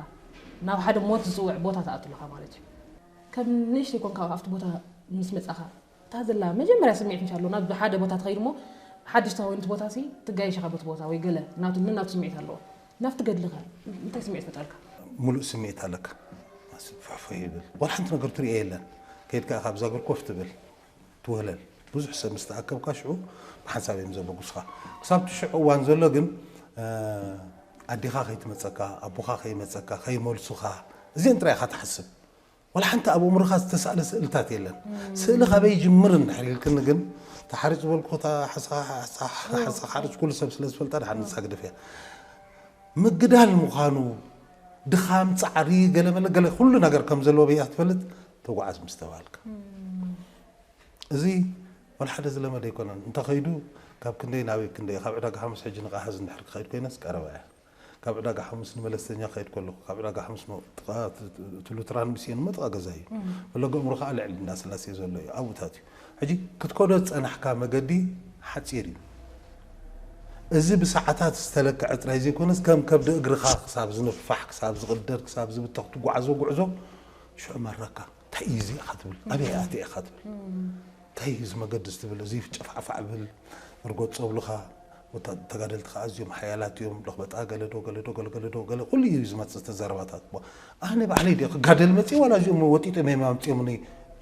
ናብ ሓደ ሞት ዝጽውዕ ቦታ ትኣቱ ኣለኻ ማለት እዩ ከም ንእሽተይ ኮንካ ኣብቲ ቦታ ምስ መጻኻ እታ ዘላ መጀመርያ ስምዒት ምስ ኣሎና ብሓደ ቦታ ትኸይድ እሞ ሓድሽ ተኾይኑ እቲ ቦታ ሲ ትጋይሸኻ በቲ ቦታ ወይ ገለ ናቱ ነናቱ ስምዒት ኣለዎ ናብቲ ገድሊ ከ እንታይ ስምዒት ፈጠርካ? ምሉእ ስምዒት ኣለካ ማሲን ፋሕፎሕ ይብል ዋላ ሓንቲ ነገር ትሪኦ የለን ከይድ ከኣ ካብ ዛግር ኮፍ ትብል ትወህለል ብዙሕ ሰብ ምስ ተኣከብካ ሽዑ ብሓንሳብ እዮም ዘበጉሱኻ ክሳብ እቲ ሽዑ እዋን ዘሎ ግን ኣዴኻ ከይትመጸካ ኣቦኻ ከይመጸካ ከይመልሱኻ እዚኤን ጥራይ ኢኻ ትሓስብ ዋላ ሓንቲ ኣብ ኣእምሮኻ ዝተሳእለ ስእልታት የለን። ስእሊ ካበይ ይጅምር እንድሕር ኢልክኒ ግን እታ ሓርጭ ዝበልኩ እታ ሓሳኻ ሓርጭ ኩሉ ሰብ ስለ ዝፈልጣ ድሓር ንሳ ግደፍ እያ። ምግዳል ምዃኑ ድኻም፣ ጻዕሪ፣ ገለ መለ ገለ ኩሉ ነገር ከም ዘለዎ በይኣ ትፈልጥ ተጓዓዝ ምስ ተባሃልካ። እዚ ዋላ ሓደ ዝለመደ ኣይኮነን። እንተኸይዱ ካብ ክንደይ ናበይ ክንደይ እዩ፣ ካብ ዕዳጋ ሓሙስ ሕጂ ንቓሃዝ እንድሕር ክኸይድ ኮይነስ ቀረባ እያ። ካብ ዕዳጋ ሓሙስ ንመለስተኛ ክኸይድ ከለኹ ካብ ዕዳጋ ሓሙስ ጥቓ እቲ ሉትራን ሚስዮን እሞ ጥቓ ገዛ እዩ ፈለገ እምሮ ከዓ ልዕሊ እንዳስላሴ ዘሎ እዩ ኣብኡታት እዩ ሕጂ ክትከዶ ዝፀናሕካ መገዲ ሓፂር እዩ እዚ ብሰዓታት ዝተለክዐ ጥራይ ዘይኮነስ ከም ከብዲ እግርኻ ክሳብ ዝንፋሕ ክሳብ ዝቕደድ ክሳብ ዝብተኽ ትጓዓዞ ጉዕዞ ሽዑ መረካ እንታይ እዩ እዚ ኢኻ ትብል ኣበይ ኣትየ ኢኻ ትብል እንታይ እዩ እዚ መገዲ እዚ ትብል እዚ ጨፋዕፋዕ ብል እርጎት ፀብሉኻ ወታ- ተጋደልቲ ከዓ ኣዝዮም ሓያላት እዮም ለኽበጣ ገለዶ ገለዶ ገለገለዶ ገለ ኩሉ እዩ ዝመፅእ እቲ ዘረባታት እሞ ኣነ ባዕለይ ድየ ክጋደል መፅእ ዋላ እዚኦም ወጢጦም እዮም ኣምፅኦምኒ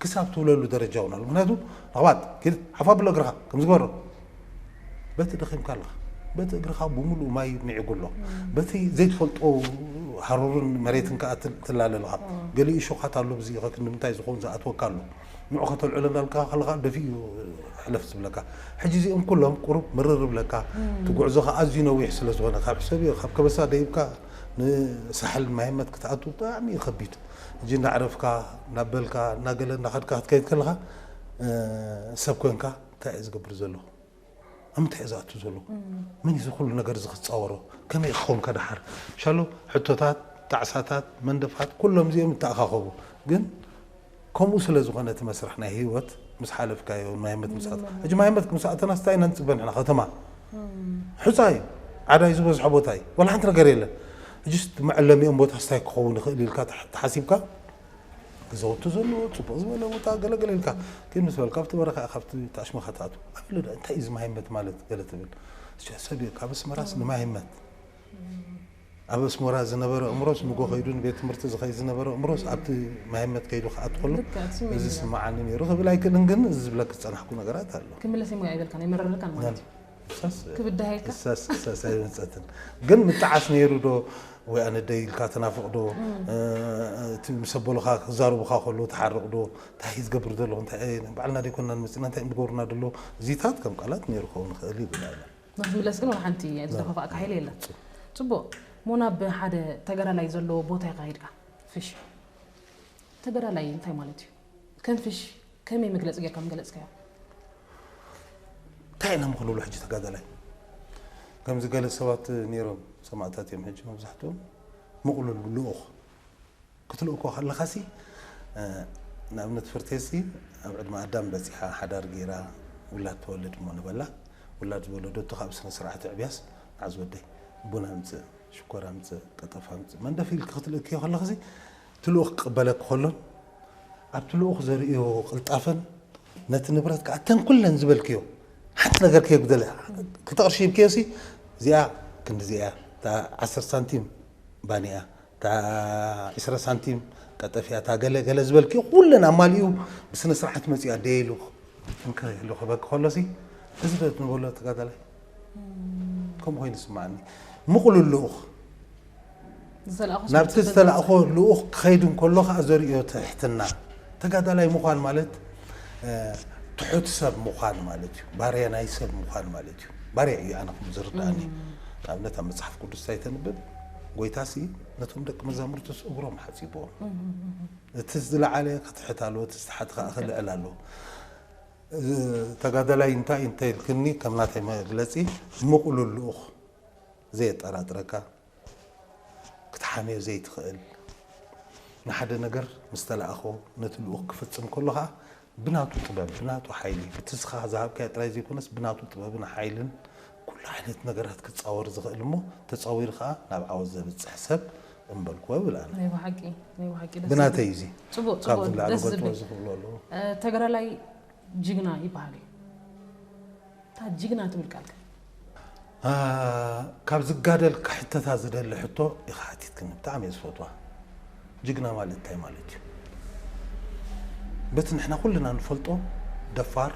ክሳብ ትብለሉ ደረጃ እውን ኣሎ ምክንያቱ ለኽባጥ ኪድ ሓፋ ብሎ እግርኻ ከምዚ ግበሮ በቲ ደኺምካ ኣለኻ በቲ እግርኻ ብምሉእ ማይ ምዒጉ ኣሎ በቲ ዘይትፈልጦ ሃሩርን መሬትን ከዓ ትላለ ኣለኻ ገሊኡ ሾኻት ኣሎ ብዚ ከክ ንምንታይ ዝኸውን ዝኣትወካ ኣሎ ንዑ ከተልዕሎ እንዳልካ ከለኻ ደፊ እዩ ሕለፍ ዝብለካ ሕጂ እዚኦም ኩሎም ቁሩብ ምርር ብለካ እቲ ጉዕዞ ከዓ ኣዝዩ ነዊሕ ስለ ዝኾነ ካብ ሕሰብዮ ካብ ከበሳ ደይብካ ንሳሕል ማይመት ክትኣቱ ብጣዕሚ እዩ ከቢድ ሕጂ እንዳዕረፍካ እናበልካ እናገለ እናኸድካ ክትከይድ ከለኻ ሰብ ኮንካ እንታይ እየ ዝገብር ዘለኹ? ኣብ ምንታይ እየ ዝኣቱ ዘለኹ? መን እዩ እዚ ኩሉ ነገር እዚ ክፃወሮ? ከመይ እየ ክኸውን ከድሓር? ሻሎ ሕቶታት፣ ጣዕሳታት፣ መንደፋት ኩሎም እዚኦም ይተኣኻኸቡ። ግን ከምኡ ስለ ዝኾነ እቲ መስርሕ ናይ ህይወት ምስ ሓለፍካዮ ማይ ኣመት ምስ ኣተና ሕጂ ማይ ኣመት ምስ ኣተናስ እንታይ ኢና ንፅበ ንሕና ከተማ ሑፃ እዩ ዓዳይ ዝበዝሖ ቦታ እዩ ዋላ ሓንቲ ነገር የለን ሕጂስ መዐለሚኦም ቦታስ እንታይ ክኸውን ይኽእል ኢልካ ተሓሲብካ ገዛውቲ ዘለዎ ፅቡቅ ዝበለ ቦታ ገለ ገለ ኢልካ ግን ምስ በልካ ኣብቲ በረኻ ኢኻ ኣብቲ ኣሽመኻ ትኣቱ ኣበለ ዶ እንታይ እዩ እዚ ማይመት ማለት ገለ ትብል እስያ ሰብ እዩ ካብ ኣስመራስ ንማይመት ኣብ ኣስመራ ዝነበረ እምሮስ ንጎ ከይዱ ንቤት ትምህርቲ ዝኸይድ ዝነበረ እምሮስ ኣብቲ ማይመት ከይዱ ክኣት ከሎ እዚ ስማዓኒ ነይሩ ክብል ኣይክእልን ግን እዚ ዝብለክ ዝፀናሕኩ ነገራት ኣሎ ክምለስ እሞ ኣይበልካን ኣይመረረካን ማለት እዩ ክሰስ ክብድሃየካ? ክሰስ ክሰስ ኣይመፀትን ግን ምጣዓስ ነይሩ ዶ ወይ ኣነደይ ኢልካ ትናፍቕ ዶ እ፣ እቲ ምስ ኣቦልኻ ክዛረቡኻ ከሎ ትሓርቕ ዶ እንታይ እዩ ዝገብር ዘለኹ እንታይ እዩ ናይ ባዕልና ደይኮናን መፂእና እንታይ እዮም ዝገብሩና ደለዉ እዚታት ከም ቃላት ነይሩ ክኸውን ይኽእል እዩ ኢልና ኢና ንክትምለስ ግን ወላ ሓንቲ ዝደፋፋእካ ሓይሊ የለን ፅቡቕ እሞ ናብ ሓደ ተጋዳላይ ዘለዎ ቦታ ኢኻ ከይድካ ፍሽ ተጋዳላይ እንታይ ማለት እዩ ከም ፍሽ ከመይ መግለጺ ጌርካ ምገለጽካዮ። እንታይ ኢና እሞ ክንብሎ ሕጂ ተጋዳላይ ከምዚ ገለ ሰባት ነይሮም ሰማእታት እዮም ሕጂ መብዛሕትኦም ምቕሉል ልኡኽ ክትልኡ እኮ ከለኻሲ ንኣብነት ፍርቴሲ ኣብ ዕድመ ኣዳም በጺሓ ሓዳር ገይራ ውላድ ትወልድ እሞ ንበላ ውላድ ዝወለደቶ ካብ ስነ ስርዓት ዕብያስ መዓዝ ወደይ ቡን ኣምጽእ ሽኮር ኣምጽእ ቀጠፍ ኣምጽእ መንደፍ ኢልኪ ክትልእክዮ ከለኽሲ እቲ ልኡኽ ክቕበለኪ ከሎ ኣብቲ ልኡኽ ዘርእዮ ቅልጣፈን ነቲ ንብረት ከኣ እተን ኩለን ዝበልክዮ ሓንቲ ነገር ከየጉደለ ክልተ ቅርሺ ሂብክዮሲ እዚኣ ክንዲዚኣ እያ እታ ዓሰርተ ሳንቲም ባኒኣ እታ ዕስራ ሳንቲም ቀጠፍያ እታ ገለ ገለ ዝበልክዮ ኩለን ኣማሊኡ ብስነ ስርዓት መጺኡ ኣደየ ኢሉ እንክርህሉ ክህበኪ ከሎሲ እዚ ዶ ትንበሎ ተጋዳላይ ከምኡ ኮይኑ ይስማዓኒ ምቕሉል ልኡኽ ዝተላእኹ ናብቲ ሰብስብ ዝተላእኾ ልኡኽ ክኸይድ እንከሎ ከዓ ዘርእዮ ትሕትና ተጋዳላይ ምዃን ማለት እ፣ ትሑት ሰብ ምዃን ማለት እዩ ባርያ ናይ ሰብ ምዃን ማለት እዩ ባርያ እዩ ኣነ ከም ዝርድኣኒ ንኣብነት ኣብ መፅሓፍ ቅዱስ እንታይ ተንብብ ጎይታሲ ነቶም ደቂ መዛሙርቱስ እግሮም ሓፂቦም እቲ ዝለዓለ ክትሕት ኣለዎ እቲ ዝተሓት ከዓ ክልዕል ኣለዎ እዚ ተጋዳላይ እንታይ እንተኢልክኒ ከም ናተይ መግለጺ ምቕሉል ልኡኽ ዘየጠራጥረካ ክትሓምዮ ዘይትኽእል ንሓደ ነገር ምስ ተላእኾ ነቲ ልኡኽ ክፍጽም ከሎ ከኣ ብናቱ ጥበብ ብናቱ ሓይሊ ብትስኻ ዝሃብካዮ ጥራይ ዘይኮነስ ብናቱ ጥበብን ሓይልን ኩሉ ዓይነት ነገራት ክጻወር ዝኽእል እሞ ተጻዊሩ ከኣ ናብ ዓወት ዘብጽሕ ሰብ እምበልኩዎ ይብል ኣነ። ናይ ብሓቂ ናይ ብሓቂ ደስ ብናተይ እዩ እዚ ጽቡቅ ካብዚ ጽቡቅ ንላዕሊ ደስ ክገልጽዎ ዝብል ዝኽእሉ ኣለዉ እ፣ ተጋዳላይ ጅግና ይበሃል እዩ እታ ጅግና ትብል ቃል ከ አ፣ ካብ ዝጋደል ክሕተታ ዝደሊ ሕቶ ኢኻ ሓቲትክኒ ብጣዕሚ እየ ዝፈትዋ ጅግና ማለት እንታይ ማለት እዩ በቲ ንሕና ኩልና ንፈልጦ ደፋር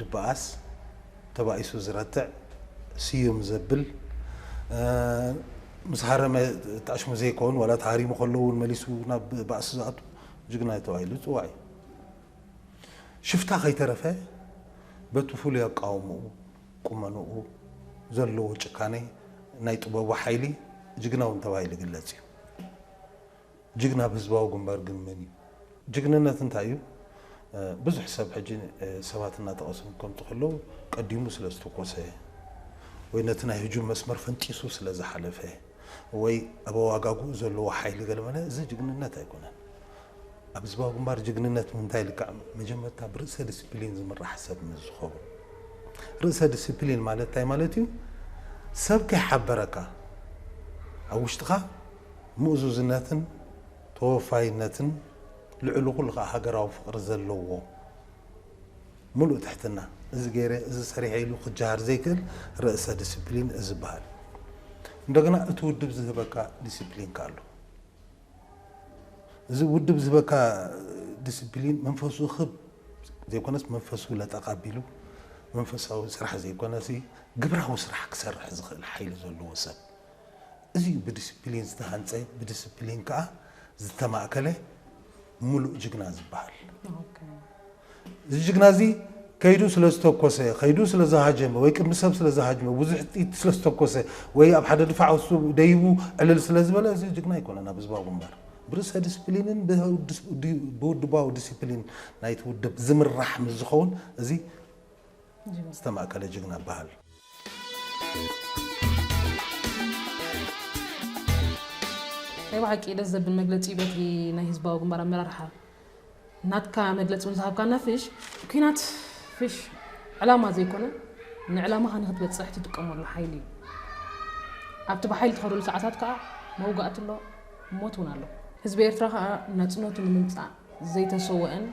ድበኣስ ተባኢሱ ዝረትዕ ስዩም ዘብል ምስ ሃረመ ጣሽሙ ዘይከውን ዋላ ተሃሪሙ ከሎ እውን መሊሱ ናብ ባእሲ ዝኣቱ ጅግና ተባሂሉ ዝፅዋዕ እዩ። ሽፍታ ከይተረፈ በቲ ፍሉይ ኣቃውምኡ፣ ቁመንኡ፣ ዘለዎ ጭካኔ ናይ ጥበቡ ሓይሊ ጅግና እውን ተባሂሉ ይግለፅ እዩ። ጅግና ብ ህዝባዊ ግንባር ግን መን እዩ? ጅግንነት እንታይ እዩ? ብዙሕ ሰብ ሕጂ ሰባት እናጠቐሱ ከምፁ ከለዉ ቀዲሙ ስለ ዝተኮሰ ወይ ነቲ ናይ ህጁም መስመር ፈንጢሱ ስለ ዝሓለፈ ወይ ኣብ ኣዋጋግኡ ዘለዎ ሓይሊ ገለመለ እዚ ጅግንነት ኣይኮነን። ኣብ ህዝባዊ ግንባር ጅግንነት ምንታይ ልክዕ መጀመርታ ብርእሰ ድስፕሊን ዝምራሕ ሰብ ምስ ዝኸውን ርእሰ ድስፕሊን ማለት እንታይ ማለት እዩ ሰብ ከይሓበረካ ኣብ ውሽጥኻ ምእዙዝነትን ተወፋይነትን ልዕሊ ኩሉ ከኣ ሃገራዊ ፍቕሪ ዘለዎ ምሉእ ትሕትና እዚ ገይረ እዚ ሰሪሐ ኢሉ ክጀሃር ዘይክእል ርእሰ ዲሲፕሊን እዚ ይበሃል። እንደገና እቲ ውድብ ዝህበካ ዲሲፕሊን ከኣ ኣሎ። እዚ ውድብ ዝህበካ ዲሲፕሊን መንፈሱ ክብ ዘይኮነስ መንፈሱ ለጠቕ ኣቢሉ መንፈሳዊ ስራሕ ዘይኮነሲ ግብራዊ ስራሕ ክሰርሕ ዝኽእል ሓይሊ ዘለዎ ሰብ እዚ እዩ ብዲሲፕሊን ዝተሃንፀ፣ ብዲሲፕሊን ከዓ ዝተማእከለ ሙሉእ ጅግና ዝበሃል። እዚ ጅግና እዚ ከይዱ ስለዝተኮሰ፣ ከይዱ ስለዝሃጀመ፣ ወይ ቅድሚ ሰብ ስለዝሃጅመ፣ ብዙሕ ጥይት ስለዝተኮሰ፣ ወይ ኣብ ሓደ ድፋዕ ውስጡ ደይቡ ዕልል ስለዝበለ እዚ ጅግና ኣይኮነን ኣብ ህዝባዊ ግንባር። ብርእሰ ዲሲፕሊንን ብውድባዊ ዲሲፕሊን ናይቲ ውድብ ዝምራሕ ምስዝኸውን እዚ ዝተማእከለ ጅግና እባሃል። ናይ ብሓቂ ደስ ዘብል መግለፂ እዩ በቲ ናይ ህዝባዊ ግንባር ኣመራርሓ ናትካ መግለፂ እውን ዝሃብካና ፍሽ ኩናት ፍሽ ዕላማ ዘይኮነ ንዕላማኻ ንክትበፅሕ ትጥቀመሉ ሓይሊ እዩ ኣብቲ ብሓይሊ ትኸደሉ ሰዓታት ከዓ መውጋእቲ ኣሎ ሞት እውን ኣሎ ህዝቢ ኤርትራ ከዓ ናፅነቱ ንምምፃእ ዘይተሰወአን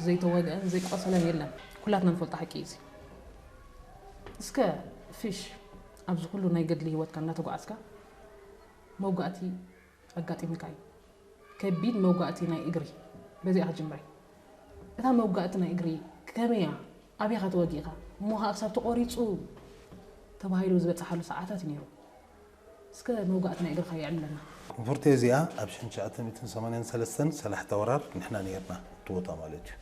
ዘይተወግአን ዘይቆሰለን የለን ኩላትና ንፈልጦ ሓቂ እዩ እዚ። እስከ ፊሽ ኣብዚ ኩሉ ናይ ገድሊ ሂወትካ እንዳተጓዓዝካ መውጋእቲ ኣጋጢምካ እዩ ከቢድ መውጋእቲ ናይ እግሪ በዚኣ ክጅምረ እታ መውጋእቲ ናይ እግሪ ከመይ እያ ኣበይ ኢኻ ተወጊእኻ እሞ ኻኣ ክሳብ ተቆሪጹ ተባሂሉ ዝበጽሓሉ ሰዓታት እዩ ኔሩ እስከ መውጋእቲ ናይ እግርኻ የዕብለና። ኮንፎርቴ እዚኣ ኣብ ሽሕን ትሽዓተ ሚእትን ሰማንያን ሰለስተን ሰላሕታ ወራር ንሕና ኔርና ኣብቲ ቦታ ማለት እዩ።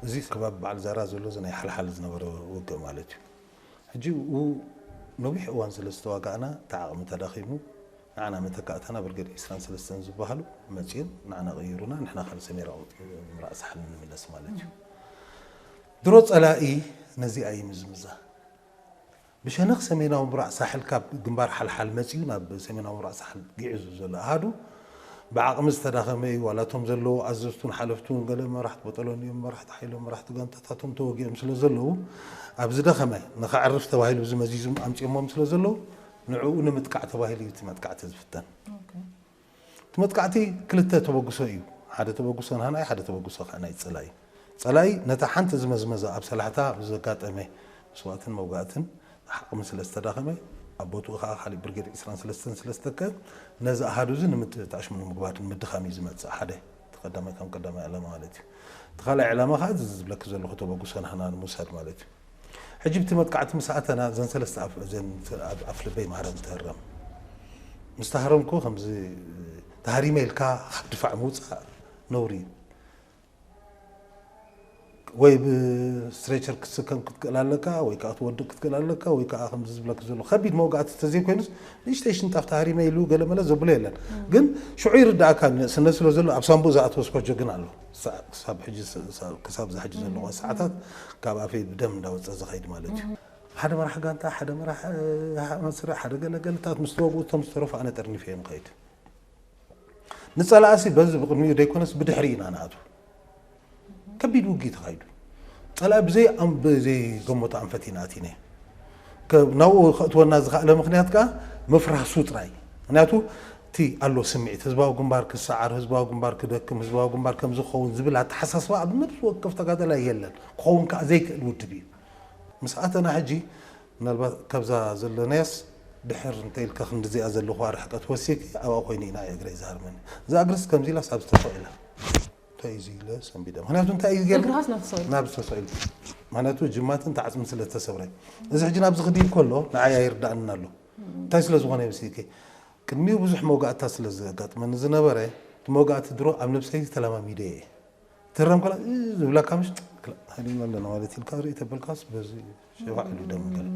እዚ ከባቢ በዓል ዛራ ዘሎ እዚ ናይ ሓልሓል ዝነበረ ውግእ ማለት እዩ። ሕጂ ኣብኡ ነዊሕ እዋን ስለ ዝተዋጋእና እቲ ዓቕሚ ተዳኺሙ ንዓና መተካእታና ብርገድ ዕስራን ሰለስተን ዝበሃሉ መጺኦም ንዓና ቀይሩና ንሕና ካብ ሰሜራ ምብራቕ ሳሕል ንምለስ ማለት እዩ። ድሮ ጸላኢ ነዚኣ ይምዝምዛ። ብሸነኽ ሰሜናዊ ምብራቕ ሳሕል ካብ ግንባር ሓልሓል መጺኡ ናብ ሰሜናዊ ምብራቕ ሳሕል ግዒዙ ዘሎ ኣሃዱ ብዓቕሚ ዝተዳኸመ እዩ። ዋላ እቶም ዘለዉ ኣዘዝቱን ሓለፍቱን ገለ መራሕቲ በጠሎኒኦም፣ መራሕቲ ሓይሎም፣ መራሕቲ ጋንታታቶም ተወጊኦም ስለ ዘለዉ ኣብ ዝደኸመ ንኸዕርፍ ተባሂሉ እዚ መዚዞም ኣምጺኦሞም ስለ ዘለዉ ንዕኡ ንምጥቃዕ ተባሂሉ እዩ እቲ መጥቃዕቲ ዝፍተን። እቲ መጥቃዕቲ ክልተ ተበግሶ እዩ፣ ሓደ ተበግሶ ንሃናኢ ሓደ ተበግሶ ከኣ ናይ ጸላኢ። ጸላኢ ነታ ሓንቲ ዝመዝመዛ ኣብ ሳላሕታ ብዘጋጠመ መስዋእትን መውጋእትን ዓቕሚ ስለ ዝተዳኸመ፣ ኣብ ቦትኡ ከኣ ካልእ ብርጌድ ዕስራን ሰለስተን ስለ ዝተከ፣ ነዚ ኣሃዱ እዚ ንምጥፍት ኣሽሙ ንምግባር ንምድኻም እዩ ዝመጽእ፣ ሓደ እቲ ቀዳማይ ከም ቀዳማይ ዕላማ ማለት እዩ። እቲ ካልኣይ ዕላማ ከኣ እዚ ዝብለኪ ዘለኹ ተበግሶ ንሃና ንምውሳድ ማለት እዩ። ሕጂ ብቲ መጥቃዕቲ ምስ ኣተና እዘን ሰለስተ ኣፍዑ እዘን ኣብ ኣፍልበይ ማህረም ዝተህረም ምስ ተሃረምኩ ከምዚ ተሃሪመ ኢልካ ካብ ድፋዕ ምውጻእ ነውሪ እዩ ወይ ብስትሬቸር ክትስከም ክትክእል ኣለካ ወይ ከዓ ትወድቅ ክትክእል ኣለካ ወይ ከዓ ከምዚ ዝብለክ ዘሎ ከቢድ መውጋእቲ ተዘይኮይኑስ ንእሽተይ ሽንጣፍ ተሃሪመ ኢሉ ገለመለ ዘብሎ የለን ግን ሽዑ ይርዳእካ ንእስነት ስለ ዘሎ ኣብ ሳንቡእ ዝኣተወ ስፖጆ ግን ኣሎ ሳዕ ክሳብ ሕጂ ክሳብ እዛ ሕጂ ዘለኹዋ ሰዓታት ካብ ኣፈይ ብደም እንዳወጸ ዝኸይድ ማለት እዩ። ሓደ መራሒ ጋንታ ሓደ መራሒ መስርዕ ሓደ ገለ ገለታት ምስ ተወግኡ እቶም ዝተረፉ ኣነ ጠርኒፈዮም እኸይድ። ንጸላእሲ በዚ ብቕድሚኡ ዘይኮነስ ብድሕሪኡ ኢና ንኣትዉ። ከቢድ ውግኢ ተኻይዱ። ጸላኢ ብዘይ ብዘይገመቶ ኣንፈት ኢና ኣቲናዮ። ናብኡ ከእትወና ዝኸኣለ ምኽንያት ከኣ ምፍራሱ ጥራይ እዩ። ምኽንያቱ እቲ ኣሎ ስምዒት፣ ህዝባዊ ግንባር ክሰዓር፣ ህዝባዊ ግንባር ክደክም፣ ህዝባዊ ግንባር ከምዚ ክኸውን ዝብል ኣተሓሳስባ ኣብ ነብሲ ወከፍ ተጋዳላይ የለን። ክኸውን ከኣ ዘይክእል ውድብ እዩ። ምስ ኣተና ሕጂ ምናልባት ካብዛ ዘለናያስ ድሕር እንተ ኢልካ ክንድዚኣ ዘለኹዋ ርሕቀት ወሲኺ ኣብኣ ኮይነ ኢና እግረይ ዝሃርመኒ። እዛ እግርስ ከምዚ ኢላስ ኣብ ዝተፈቐ ኢላ። እንታይ እዩ እዚ ኢለ ሰንቢደ ምክንያቱ እንታይ እዩ ገይሩ እግርኻስ ናብቲ ሰቂልካ ናብዚ ተሰቂሉ ምክንያቱ ጅማት እንተ ዓፅሚ ስለ ዝተሰብረ እዚ ሕጂ ናብዚ ክድይብ ከሎ ንዓይ ኣይርዳእንን ኣሎ እንታይ ስለ ዝኾነ ይመስልኪ ቅድሚኡ ብዙሕ መውጋእትታት ስለ ዘጋጥመኒ ዝነበረ እቲ መውጋእቲ ድሮ ኣብ ነብሰይ ተለማሚደ እየ ትህረም ከላ እ ዝብለካ ምሽ ክላ ሃዲምና ኣለና ማለት ኢልካ ርእይ ተበልካስ በዚ እዩ ሸባዕ ኢሉ ደም ገለ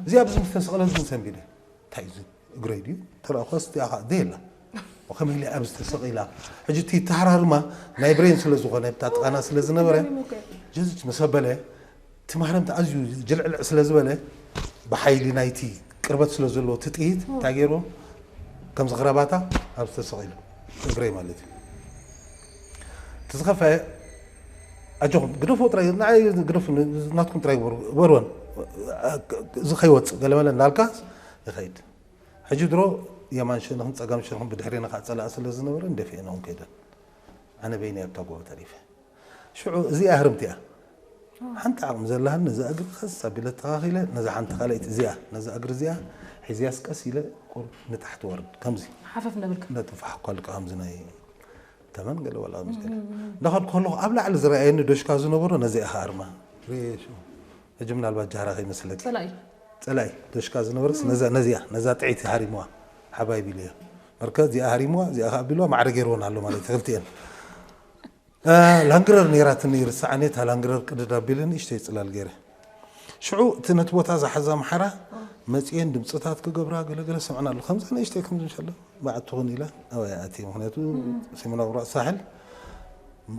እዚ ኣብዚ ዝተሰቕለ ግን ሰንቢደ እንታይ እዚ እግረይ ድዩ ተረእኳ ስቲኣ ከዓ ዘየላ ከመይ ኢለ ኣብዚ ተሰቒላ ሕጂ እቲ ተሃራርማ ናይ ብሬን ስለ ዝኾነ ብታ ጥቓና ስለ ዝነበረ ጀዝች ምስ ኣበለ እቲ ማህረምቲ ኣዝዩ ጅልዕልዕ ስለ ዝበለ ብሓይሊ ናይቲ ቅርበት ስለ ዘለዎ እቲ ጥይት እንታይ ገይሩ ከምዚ ክረባታ ኣብዚ ተሰቒሉ እግረይ ማለት እዩ እቲ ዝኸፈ ኣጆኹም ግደፍዎ ጥራይ ንዓይ ግደፉ ናትኩም ጥራይ ግበሩ እበርወን እዚ ከይወፅእ ገለመለ እንዳልካ ይኸይድ ሕጂ ድሮ የማን ሸነኹም ፀጋም ሸነኹም ብድሕሬና ከዓ ፀላኢ ስለ ዝነበረን ደፊኤንኦም ከይደን ኣነ በይነይ ኣብታ ጎቦ ተሪፈ ሽዑ እዚኣ ህርምቲ እያ ሓንቲ ዓቕሚ ዘለሃኒ ነዛ እግሪ ቀስ ኣቢለ ተኻኺለ ነዛ ሓንቲ ካልኣይቲ እዚኣ ነዛ እግሪ እዚኣ ሒዝያስ ቀስ ኢለ ቁር ንታሕቲ ወርድ ከምዚ ሓፈፍ ነብልካ ነጥፋሕ ኳልካ ከምዚ ናይ ተመን ገለ ዋላ ምስ ገለ እንዳኸድኩ ከለኹ ኣብ ላዕሊ ዝረኣየኒ ዶሽካ ዝነበሮ ነዚኣ ኢኻ ኣርማ ርኤ ሽኡ ሕጂ ምናልባት ጃህራ ከይመስለኪ ጸላኢ ጸላኢ ዶሽካ ዝነበረስ ነዛ ነዚኣ ነዛ ጥዒት ሃሪምዋ ሓባይ ቢሉ እያ መርከ እዚኣ ሃሪምዋ እዚኣ ከኣ ቢልዋ ማዕረ ገይርወን ኣሎ ማለት እዩ ክልቲኤን ላንግረር ነይራትኒ ይርስዓኒ እታ ላንግረር ቅድድ ኣቢለ ንእሽተይ ጽላል ገይረ ሽዑ እቲ ነቲ ቦታ ዝሓዘ ኣምሓራ መጺኤን ድምጽታት ክገብራ ገለ ገለ ሰምዕና ኣሎ ከምዛ ንእሽተይ ከምዚ ሸለ በዓትኹን ኢለ ኣባይ ኣትየ ምክንያቱ ሰሜን ኣውራቅ ሳሕል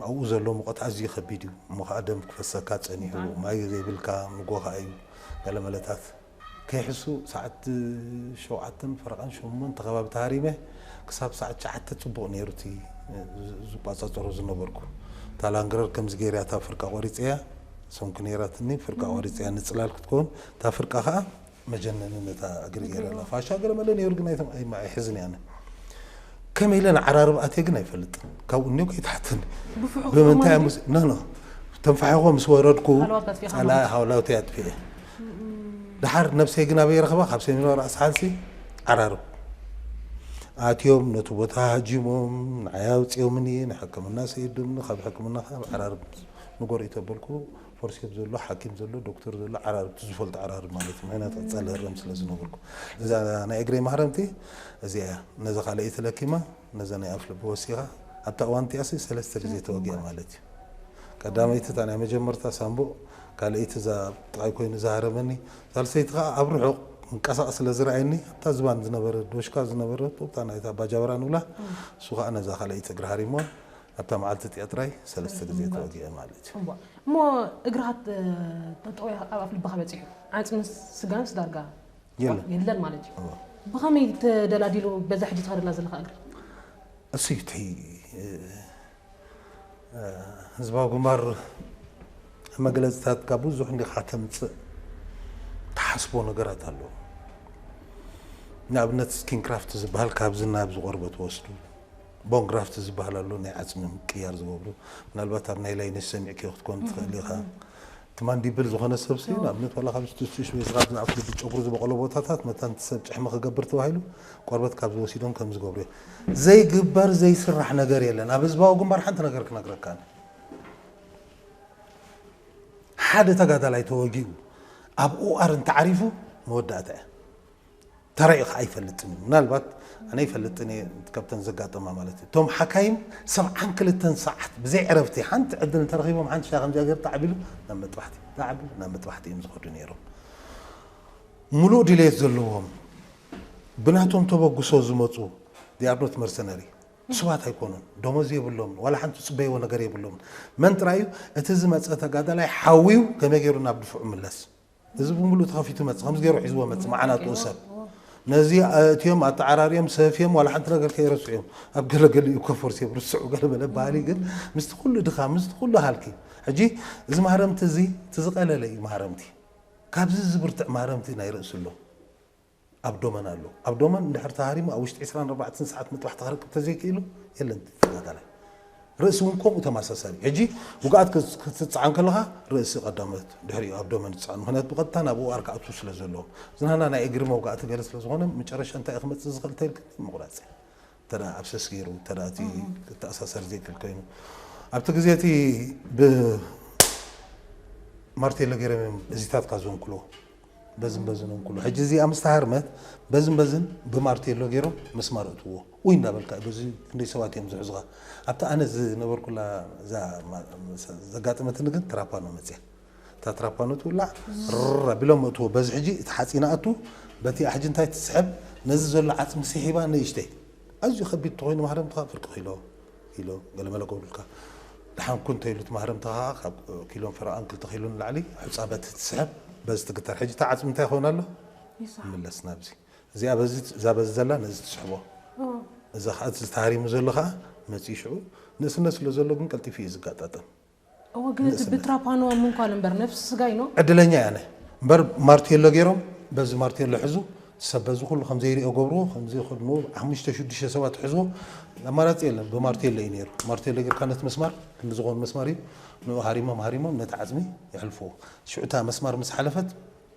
ኣብኡ ዘሎ ሙቐት ኣዝዩ ከቢድ እዩ እሞ ከዓ ደም ክፈሰካ ጸኒሑ ማይ ዘይብልካ ንጎ ከዓ እዩ ገለ መለታት ከይሕሱ ሰዓት ሸውዓተን ፈረቓን ሸሞንተ ከባቢ ተሃሪመ ክሳብ ሰዓት ትሽዓተ ጽቡቕ ነይሩ እቲ ዝቆጻጸሮ ዝነበርኩ። እታ ላንግረር ከምዚ ገይረ እያ እታ ፍርቃ ቆሪጸያ ሰንኩ ነይራትኒ ፍርቃ ቆሪጸያ ንጽላል ክትከውን እታ ፍርቃ ከኣ መጀነኒ ነታ እግሪ ገይረላ ፋሻ ገለመለ ነይሩ ግን ኣይሕዝን እየ ኣነ። ከመይ ኢለ ንዓራርብ ኣትየ ግን ኣይፈልጥን ካብኡ እኒኦ ከይትሓተኒ ብፍሑኽ ብምንታይ እሞ ምስ- ኖ ኖ ተንፋሒኾ ምስ ወረድኩ ሃለዋት ኣጥፊእኻ ጸላ ማለት ሃውላውተይ ኣጥፊኤ ድሓር ነብሰይ ግን ኣበይ ረኽባ ካብ ሰሜናዊ ራእሲ ሓንሲ ዓራርብ ኣትዮም ነቲ ቦታ ሃጂሞም ንዓይ ኣውፂኦምኒ ንሕክምና ሰይዱኒ ካብ ሕክምና ከዓ ኣብ ዓራርብ ንጎረኢት ኣበልኩ ፎርሴፕ ዘሎ ሓኪም ዘሎ ዶክተር ዘሎ ዓራርብ እቲ ዝፈልጦ ዓራርብ ማለት እዩ ምክንያቱ ቀጻሊ ህረም ስለ ዝነበርኩ እዛ ናይ እግረይ ማህረምቲ እዚኣ እያ ነዛ ካልኣይቲ ለኪማ ነዛ ናይ ኣፍ ልቢ ወሲኻ ኣብታ እዋን እቲኣሲ ሰለስተ ግዜ ተወጊኣ ማለት እዩ ቀዳመይቲ እታ ናይ መጀመርታ ሳምቡእ ካልኣይቲ እዛ ኣብ ጥቓይ ኮይኑ ዝሃረመኒ ሳልሰይቲ ከዓ ኣብ ርሑቕ ምንቀሳቐስ ስለ ዝረኣየኒ ኣብታ ዝባን ዝነበረ ዶሽካ ዝነበረ እታ ናይታ ባጃበራ ንብላ እሱ ከዓ ነዛ ካልኣይቲ እግሪ ሃሪምዋ ኣብታ መዓልቲ እቲኣ ጥራይ ሰለስተ ግዜ ተወጊዐ ማለት እዩ። እሞ እሞ እግርኻ ጥ- ጠጠው ኢልካ ኣብ ኣፍ ልብኻ በጺሑ ዓጽምን ስጋንስ ዳርጋ የለን። የለን ማለት እዩ። እወ። ብኸመይ ተደላዲሉ በዛ ሕጂ ትኸደላ ዘለኻ እግሪ? እሱይ እቲ እ፣ ህዝባዊ ግንባር መግለፅታትካ ብዙሕ እንዲኻ ተምፅእ ትሓስቦ ነገራት ኣለዎ። ንኣብነት ስኪንክራፍት ዝበሃል ካብዚ ናብዚ ቆርበት ወስዱ ቦን ግራፍት ዝብሃል ኣሎ ናይ ዓጽሚ ምቅያር ዝገብሩ ምናልባት ኣብ ናይ ላይነሽ ሰሚዕክዮ ክትኮን ትክእል ኢካ እቲ ማንዲብል ዝኮነ ሰብሲ ንኣብነት ዋላ ካብ ቱሽ ወይ ካብ ኣፍ ልቢ ጨጉሪ ዝበቆሎ ቦታታት መታን እቲ ሰብ ጭሕሚ ክገብር ተባሂሉ ቆርበት ካብ ዝወሲዶም ከም ዝገብሩ እዮም ዘይግበር ዘይስራሕ ነገር የለን ኣብ ህዝባዊ ግንባር ሓንቲ ነገር ክነግረካ እነ ሓደ ተጋዳላይ ተወጊኡ ኣብ ኡኣር እንተዓሪፉ መወዳእታ እያ ተራኢኻ ኣይፈልጥን እዩ ምናልባት ኣነ ይፈልጥን እየ ካብተን ዘጋጠማ ማለት እዩ እቶም ሓካይም ሰብዓን ክልተን ሰዓት ብዘይ ዕረፍቲ ሓንቲ ዕድል እንተረኺቦም ሓንቲ ሻይ ከምዚኣ ገይሩ ተዓቢሉ ናብ መጥባሕቲ ተዓቢሉ ናብ መጥባሕቲ እዮም ዝኸዱ ነይሮም ሙሉእ ድሌት ዘለዎም ብናቶም ተበግሶ ዝመፁ ዲኣርኖት መርሰነሪ ንሱባት ኣይኮኑን ደሞዝ የብሎምን ዋላ ሓንቲ ዝፅበይዎ ነገር የብሎምን መን ጥራይ እዩ እቲ ዝመፀ ተጋዳላይ ሓውዩ ከመይ ገይሩ ናብ ድፍዑ ምለስ እዚ ብምሉኡ ተኸፊቱ ይመጽእ ከምዚ ገይሩ ሒዝዎ ይመጽእ መዓናጥኡ ሰብ ነዚ ኣእትዮም ኣተዓራርዮም ሰፍዮም ዋላ ሓንቲ ነገር ከይረስዑ እዮም ኣብ ገለ ገሊኡ እኮ ፈርሲዮም ርስዑ ገለ በለ ባህሊ ግን ምስቲ ኩሉ ድኻም ምስቲ ኩሉ ሃልኪ ሕጂ እዚ ማህረምቲ እዚ እቲ ዝቐለለ እዩ ማህረምቲ ካብዚ ዝብርትዕ ማህረምቲ ናይ ርእሲ ኣሎ ኣብ ዶመን ኣሎ ኣብ ዶመን እንድሕር ተሃሪሙ ኣብ ውሽጢ ዕስራን ኣርባዕተን ሰዓት ምጥባሕ ተክረክብ ተዘይክኢሉ የለን ተጋዳላይ ርእሲ እውን ከምኡ ተመሳሳሊ እዩ ሕጂ ውግኣት ክትፅዓን ከለኻ ርእሲ ቀዳመት ድሕሪኡ ኣብ ዶመን ዝፅዓን ምክንያቱ ብቐጥታ ናብ ኦኣር ክኣትዉ ስለ ዘለዎም ዝናህና ናይ እግሪ መውጋእቲ ገለ ስለ ዝኾነ መጨረሻ እንታይ ክመፅእ ዝኽእል ተልክቲ ምቑራፅ እዩ እንተ ኣብሰስ ገይሩ እንተ እቲ ክተኣሳሰር ዘይክእል ኮይኑ ኣብቲ ግዜ እቲ ብማርቴሎ ገይሮም እዮም እዚታትካ ዘንክሎ በዝን በዝን እንክሎ ሕጂ እዚኣ ምስ ተሃርመት በዝን በዝን ብማርቴሎ ገይሮም መስማር እትዎ ውይ እንዳበልካ በዚ ክንደይ ሰባት እዮም ዝሕዙኻ ኣብቲ ኣነ ዝነበርኩላ ዘጋጠመትኒ ግን ትራፓኖ መፅያ እታ ትራፓኖ ትውላዕ ርር ኣቢሎም መእትዎ በዚ ሕጂ እቲ ሓጺን ኣእቱ በቲ ኣሕጂ እንታይ ትስሕብ ነዚ ዘሎ ዓጽሚ ሲሒባ ንእሽተይ ኣዝዩ ከቢድ እንተኾይኑ ማህረምትኻ ፍርቂ ኪሎ ኪሎ ገለ መለ ገብሩልካ ደሓን ኩን እንተይሉ እቲ ማህረምትኻ ከኣ ካብ ኪሎን ፈረቓን ክልተ ኪሎ ንላዕሊ ሑጻ በቲ ትስሕብ በዚ ትግተር ሕጂ እቲ ዓጽሚ እንታይ ይኸውን ኣሎ ይምለስ ናብዚ እዚኣ በዚ እዛ በዚ ዘላ ነዚ ትስሕቦ እዛ ከኣ እቲ ተሃሪሙ ዘሎ ከኣ መጺኡ ሽዑ ንእስነት ስለ ዘሎ ግን ቀልጢፉ እዩ ዝጋጣጠም እወ ግን እቲ ብትራፓኖ ምንኳል እምበር ነፍሲ ስጋይ ኖ። ዕድለኛ እያ ን እምበር ማርቴሎ ጌሮም በዚ ማርቴሎ ሕዙ ሰብ በዚ ኩሉ ከምዘይሪኦ ገብርዎ ከምዚ ከድንዎ ሓሙሽተ ሽዱሽተ ሰባት ሕዝዎ ኣማራጺ የለን ብማርቴሎ እዩ ኔሩ ማርቴሎ ጌርካ ነቲ መስማር ክንዲ ዝኮን መስማር እዩ ንኡ ሃሪሞም ሃሪሞም ነቲ ዓጽሚ የሕልፍዎ ሽዑ እታ መስማር ምስ ሓለፈት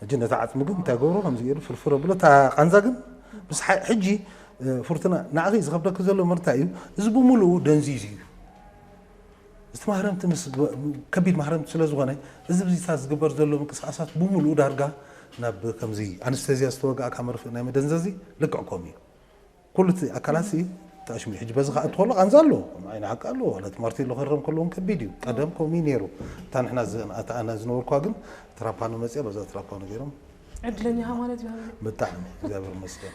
ሕጂ ነቲ ዓጽሚ ግን እንታይ ገብሮ ከምዚ ገይሩ ፍርፍር ኣብሎ እታ ቃንዛ ግን ምስ ሕጂ ፍርቱና ንዓኺ ዝኸብደኪ ዘሎ መርታ እዩ እዚ ብምሉኡ ደንዚዙ እዩ እዚ ማህረምቲ ምስ ከቢድ ማህረምቲ ስለ ዝኾነ እዚ ብዚታት ዝግበር ዘሎ ምንቅስቃሳት ብምሉኡ ዳርጋ ናብ ከምዚ ኣንስተዚያ ዝተወጋእካ መርፍእ ናይ መደንዘዚ ልክዕ ከምኡ እዩ ኩሉ እቲ ኣካላት ሲ ተኣሽሙ እዩ ሕጂ በዚ ከኣ እንተኾሎ ቃንዛ ኣለዎ ከም ዓይኒ ሓቂ ኣለዎ ዋላ እቲ ማርቲን ሉተር ክርም ከለውን ከቢድ እዩ ቀደም ከምኡ እዩ ነይሩ እታ ንሕና ዘ- ኣታ ኣነ ዝነበርኩዋ ግን ትራፓኖ መጺኣ በዛ ትራፓኖ ገይሮም ዕድለኛ ኢኻ ማለት እዩ ሃብለ። ብጣዕሚ እግዚኣብሔር ይመስገን